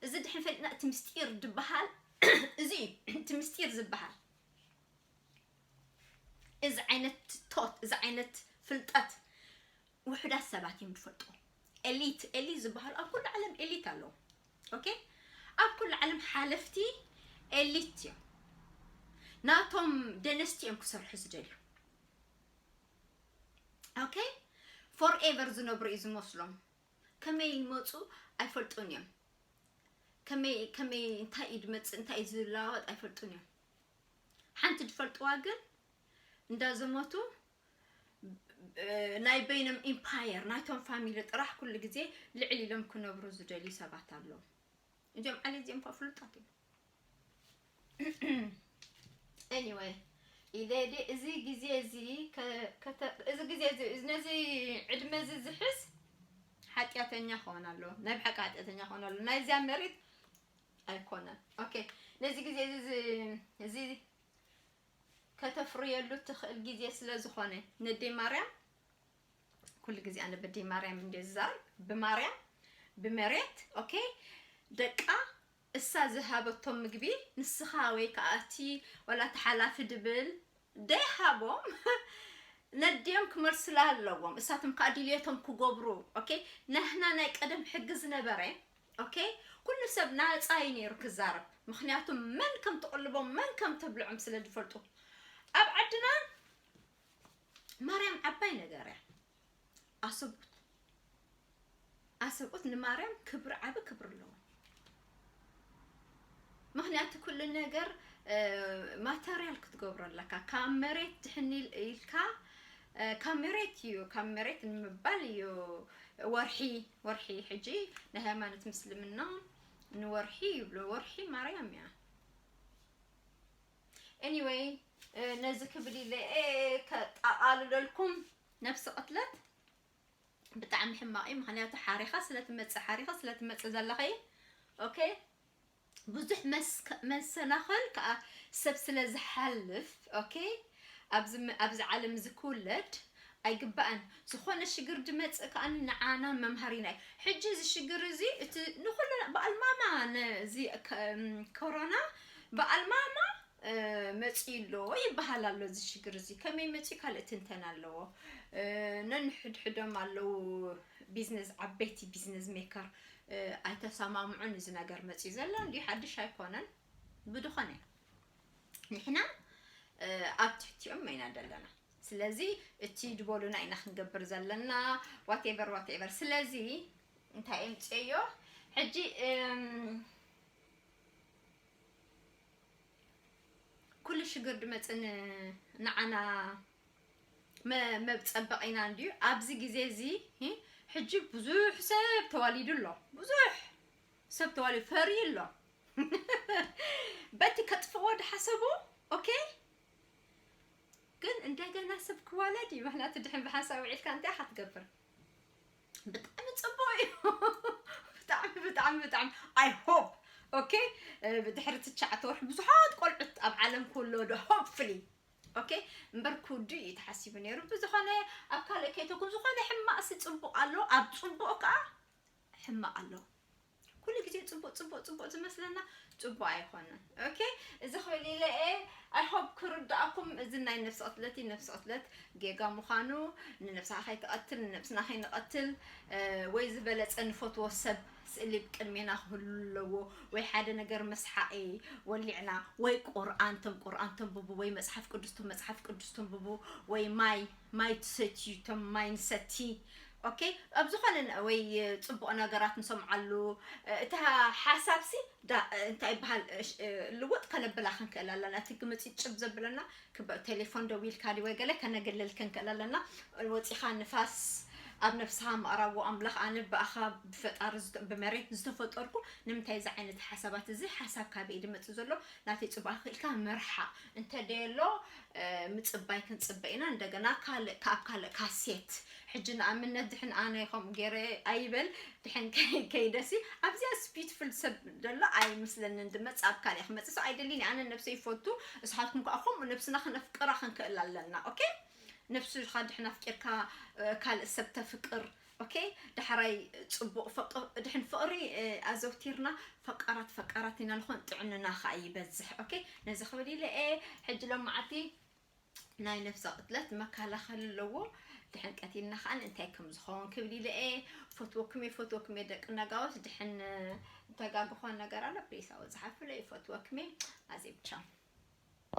እዚ ድሕን ፈሊጥና እቲ ምስጢር ድበሃል እዚ እዩ እቲ ምስጢር ዝበሃል እዚ ዓይነት ቶት እዚ ዓይነት ፍልጠት ውሑዳት ሰባት እዮም ዝፈልጥዎ ኤሊት ኤሊት ዝባሃሉ ኣብ ኩሉ ዓለም ኤሊት ኣለው ኦኬ ኣብ ኩሉ ዓለም ሓለፍቲ ኤሊት እዮም ናቶም ደነስቲ እዮም ክሰርሑ ዝደልዩ ኦኬ ፎር ኤቨር ዝነብሩ እዩ ዝመስሎም ከመይ ይመፁ ኣይፈልጡን እዮም ከመይ ከመይ እንታይ እዩ ዝመፅእ እንታይ እዩ ዝለዋወጥ ኣይፈልጡን እዮም ሓንቲ ዝፈልጥዋ ግን እንዳዘመቱ ናይ በይኖም ኢምፓየር ናይቶም ፋሚሊ ጥራሕ ኩሉ ግዜ ልዕል ኢሎም ክነብሩ ዝደልዩ ሰባት ኣለዉ እዚኦም ዓሊ እዚኦም ካብ ፍሉጣት እዮም ኤኒወይ ኢደዲ እዚ ግዜ እዚ እዚ ግዜ እዚ ነዚ ዕድመ እዚ ዝሕዝ ሓጢኣተኛ ክኾን ኣለዎ ናይ ብሓቂ ሓጢኣተኛ ክኾን ኣለዎ ናይዚያ መሬት ኣይኮነን ኦኬ ነዚ ግዜ እዚ እዚ ከተፍርየሉ እትኽእል ግዜ ስለ ዝኾነ ነዴ ማርያም ኩሉ ግዜ ኣነ በዴ ማርያም እንዴ ዝዛረብ ብማርያም ብመሬት ኦኬ ደቃ እሳ ዝሃበቶም ምግቢ ንስኻ ወይ ከኣ እቲ ዋላ እቲ ሓላፊ ድብል ደይ ሃቦም ነዴኦም ክመልሱላ ኣለዎም እሳቶም ከኣ ድልየቶም ክጎብሩ ኦኬ ናህና ናይ ቀደም ሕጊ ዝነበረ ok ኩሉ ሰብ ናጻ እዩ ነይሩ ክዛረብ ምክንያቱ መን ከም ትቅልቦም መን ከም ተብልዖም ስለ ዝፈልጡ ኣብ ዓድና ማርያም ዓባይ ነገር እያ ኣሰብኡት ኣሰብኡት ንማርያም ክብሪ ዓቢ ክብሪ ኣለዎ ምክንያቱ ኩሉ ነገር ማተርያል ክትገብሮ ኣለካ ካብ መሬት ድሕኒ ኢልካ ካብ መሬት እዩ ካብ መሬት ንምባል እዩ ወርሒ ወርሒ ሕጂ ናይ ሃይማኖት ምስልምና ንወርሒ ይብሎ ወርሒ ማርያም እያ Anyway ነዚ ክብል ኢለ ከጣቓልለልኩም ነፍሲ ቅትለት ብጣዕሚ ሕማቕ እዩ ምክንያቱ ሓሪኻ ስለትመፅእ ሓሪኻ ስለትመፅእ ዘለኸ እዩ ኦኬ ብዙሕ መሰናኸል ከኣ ሰብ ስለ ዝሓልፍ ኦኬ ኣብዚ ኣብዚ ዓለም እዚ ክውለድ ኣይግባእን ዝኾነ ሽግር ድመጽእ ከኣ ንዓና መምሃሪና እዩ ሕጂ እዚ ሽግር እዚ እቲ ንኹሉ በዓል ማማ ነዚ ኮሮና በዓል ማማ መጽዩ ኣሎ ይበሃል ኣሎ እዚ ሽግር እዚ ከመይ መጽዩ ካልእ ትንተና ኣለዎ ነንሕድሕዶም ኣለዉ ቢዝነስ ዓበይቲ ቢዝነስ ሜከር ኣይተሳማምዑን እዚ ነገር መጺኡ ዘሎ እንድዩ ሓድሽ ኣይኮነን ብድኾነ ንሕና ኣብ ትሕቲኦም ኢና ዘለና ስለዚ እቲ ድበሉና ኢና ክንገብር ዘለና ዋቴቨር ዋቴቨር ስለዚ እንታይ እምጽዮ ሕጂ ኩሉ ሽግር ድመጽን ንዓና መብጸበቕ ኢና እንድዩ ኣብዚ ግዜ እዚ ሕጂ ብዙሕ ሰብ ተዋሊዱ ኣሎ ብዙሕ ሰብ ተዋሊዱ ፈርዩ ኣሎ በቲ ከጥፍዎ ድሓሰቡ ኦኬ ግን እንደገና ሰብ ክዋለድ እዩ ምክንያቱ ድሕን ብሓንሳብ ውዒልካ እንታይ ኢኻ ትገብር ብጣዕሚ ፅቡቅ እዩ ብጣዕሚ ብጣዕሚ ብጣዕሚ ኣይ ሆፕ ኦኬ ብድሕሪ ትሽዓተ ወርሒ ብዙሓት ቆልዑት ኣብ ዓለም ክውለዱ ሆፕፍሊ ok እምበር ክውድእ እዩ ተሓሲቡ ነይሩ ብዝኾነ ኣብ ካልእ ከይተኩም ዝኾነ ሕማቕሲ ፅቡቕ ኣሎ ኣብ ፅቡቕ ከዓ ሕማቕ ኣሎ ኩሉ ግዜ ፅቡቕ ፅቡቕ ፅቡቕ ዝመስለና ፅቡቕ ኣይኾነን ኦኬ እዚ ክብል ኢለ እየ ኣይ ሆፕ ክርድኣኩም እዚ ናይ ነፍሲ ቅትለት ነፍሲ ቅትለት ጌጋ ምዃኑ ንነፍስኻ ከይትቐትል ንነብስና ከይንቐትል ወይ ዝበለፀ ንፈትዎ ሰብ ስእሊ ብ ቅድሜና ክህሉ ኣለዎ ወይ ሓደ ነገር መስሓቂ ወሊዕና ወይ ቁርኣን ቶም ቁርኣን ተንብቡ ወይ መጽሓፍ ቅዱስ ቶም መጽሓፍ ቅዱስ ተንብቡ ወይ ማይ ማይ ትሰትዩ ቶም ማይ ንሰቲ ኦኬ ኣብ ዝኾነ ወይ ጽቡቕ ነገራት ንሰምዓሉ እታ ሓሳብሲ እንታይ ይበሃል ልውጥ ከነብላ ክንክእል ኣለና እቲ ግምጺጭብ ዘብለና ክብ ቴሌፎን ደዊልካ ድዩ ወይ ገለ ከነግልል ክንክእል ኣለና ወጺኻ ንፋስ ኣብ ነፍስኻ ምኣራዎ ኣምላኽ ኣነ ብኣኻ ብፈጣሪ ዝተ- ብመሬት ዝተፈጠርኩ ንምንታይ እዚ ዓይነት ሓሳባት እዚ ሓሳብ ካበይ ድመጽእ ዘሎ ናተይ ጽቡቅ ክኢልካ ምርሓ እንተ ደየሎ እ፣ ምጽባይ ክንጽበ ኢና እንደገና ካልእ ካብ ካልእ ካሴት ሕጂ ንኣምነት ድሕን ኣነ ከምኡ ገይረ ኣይበል ድሕን ከይደ ሲ ኣብዚኣ ስፒትፍል ሰብ ዘሎ ኣይምስለንን ድመጽ ኣብ ካልእ ክመጽእ ሰው ኣይደልን ኣነ ነብሰይ ይፈቱ እስሓትኩም ከኣ ከምኡ ነብስና ክነፍቅራ ክንክእል ኣለና ኦኬ ነብስኻ ድሕን ኣፍቂርካ ካልእ ሰብ ተፍቅር ኦኬ ዳሕራይ ጽቡቕ ፍቅ ድሕን ፍቕሪ ኣዘውቲርና ፈቃራት ፈቃራት ኢና ንኾን ጥዕንና ከኣ ይበዝሕ ኦኬ ነዚ ክብል ኢለ ሕጂ ሎማዓቲ ናይ ነብሰ ቅትለት መካላኸሊ ኣለዎ ድሕን ቀቲልና ከኣ እንታይ ከም ዝኸውን ክብል ኢለ እየ ፈትወኩም እየ ፈትወኩም እየ ደቂ ነጋውስ ድሕን ተጋግኾ ነገር ኣሎ ፕሊስ ኣብኡ ጸሓፉለይ ፈትወኩም እየ ኣዜብ ቻው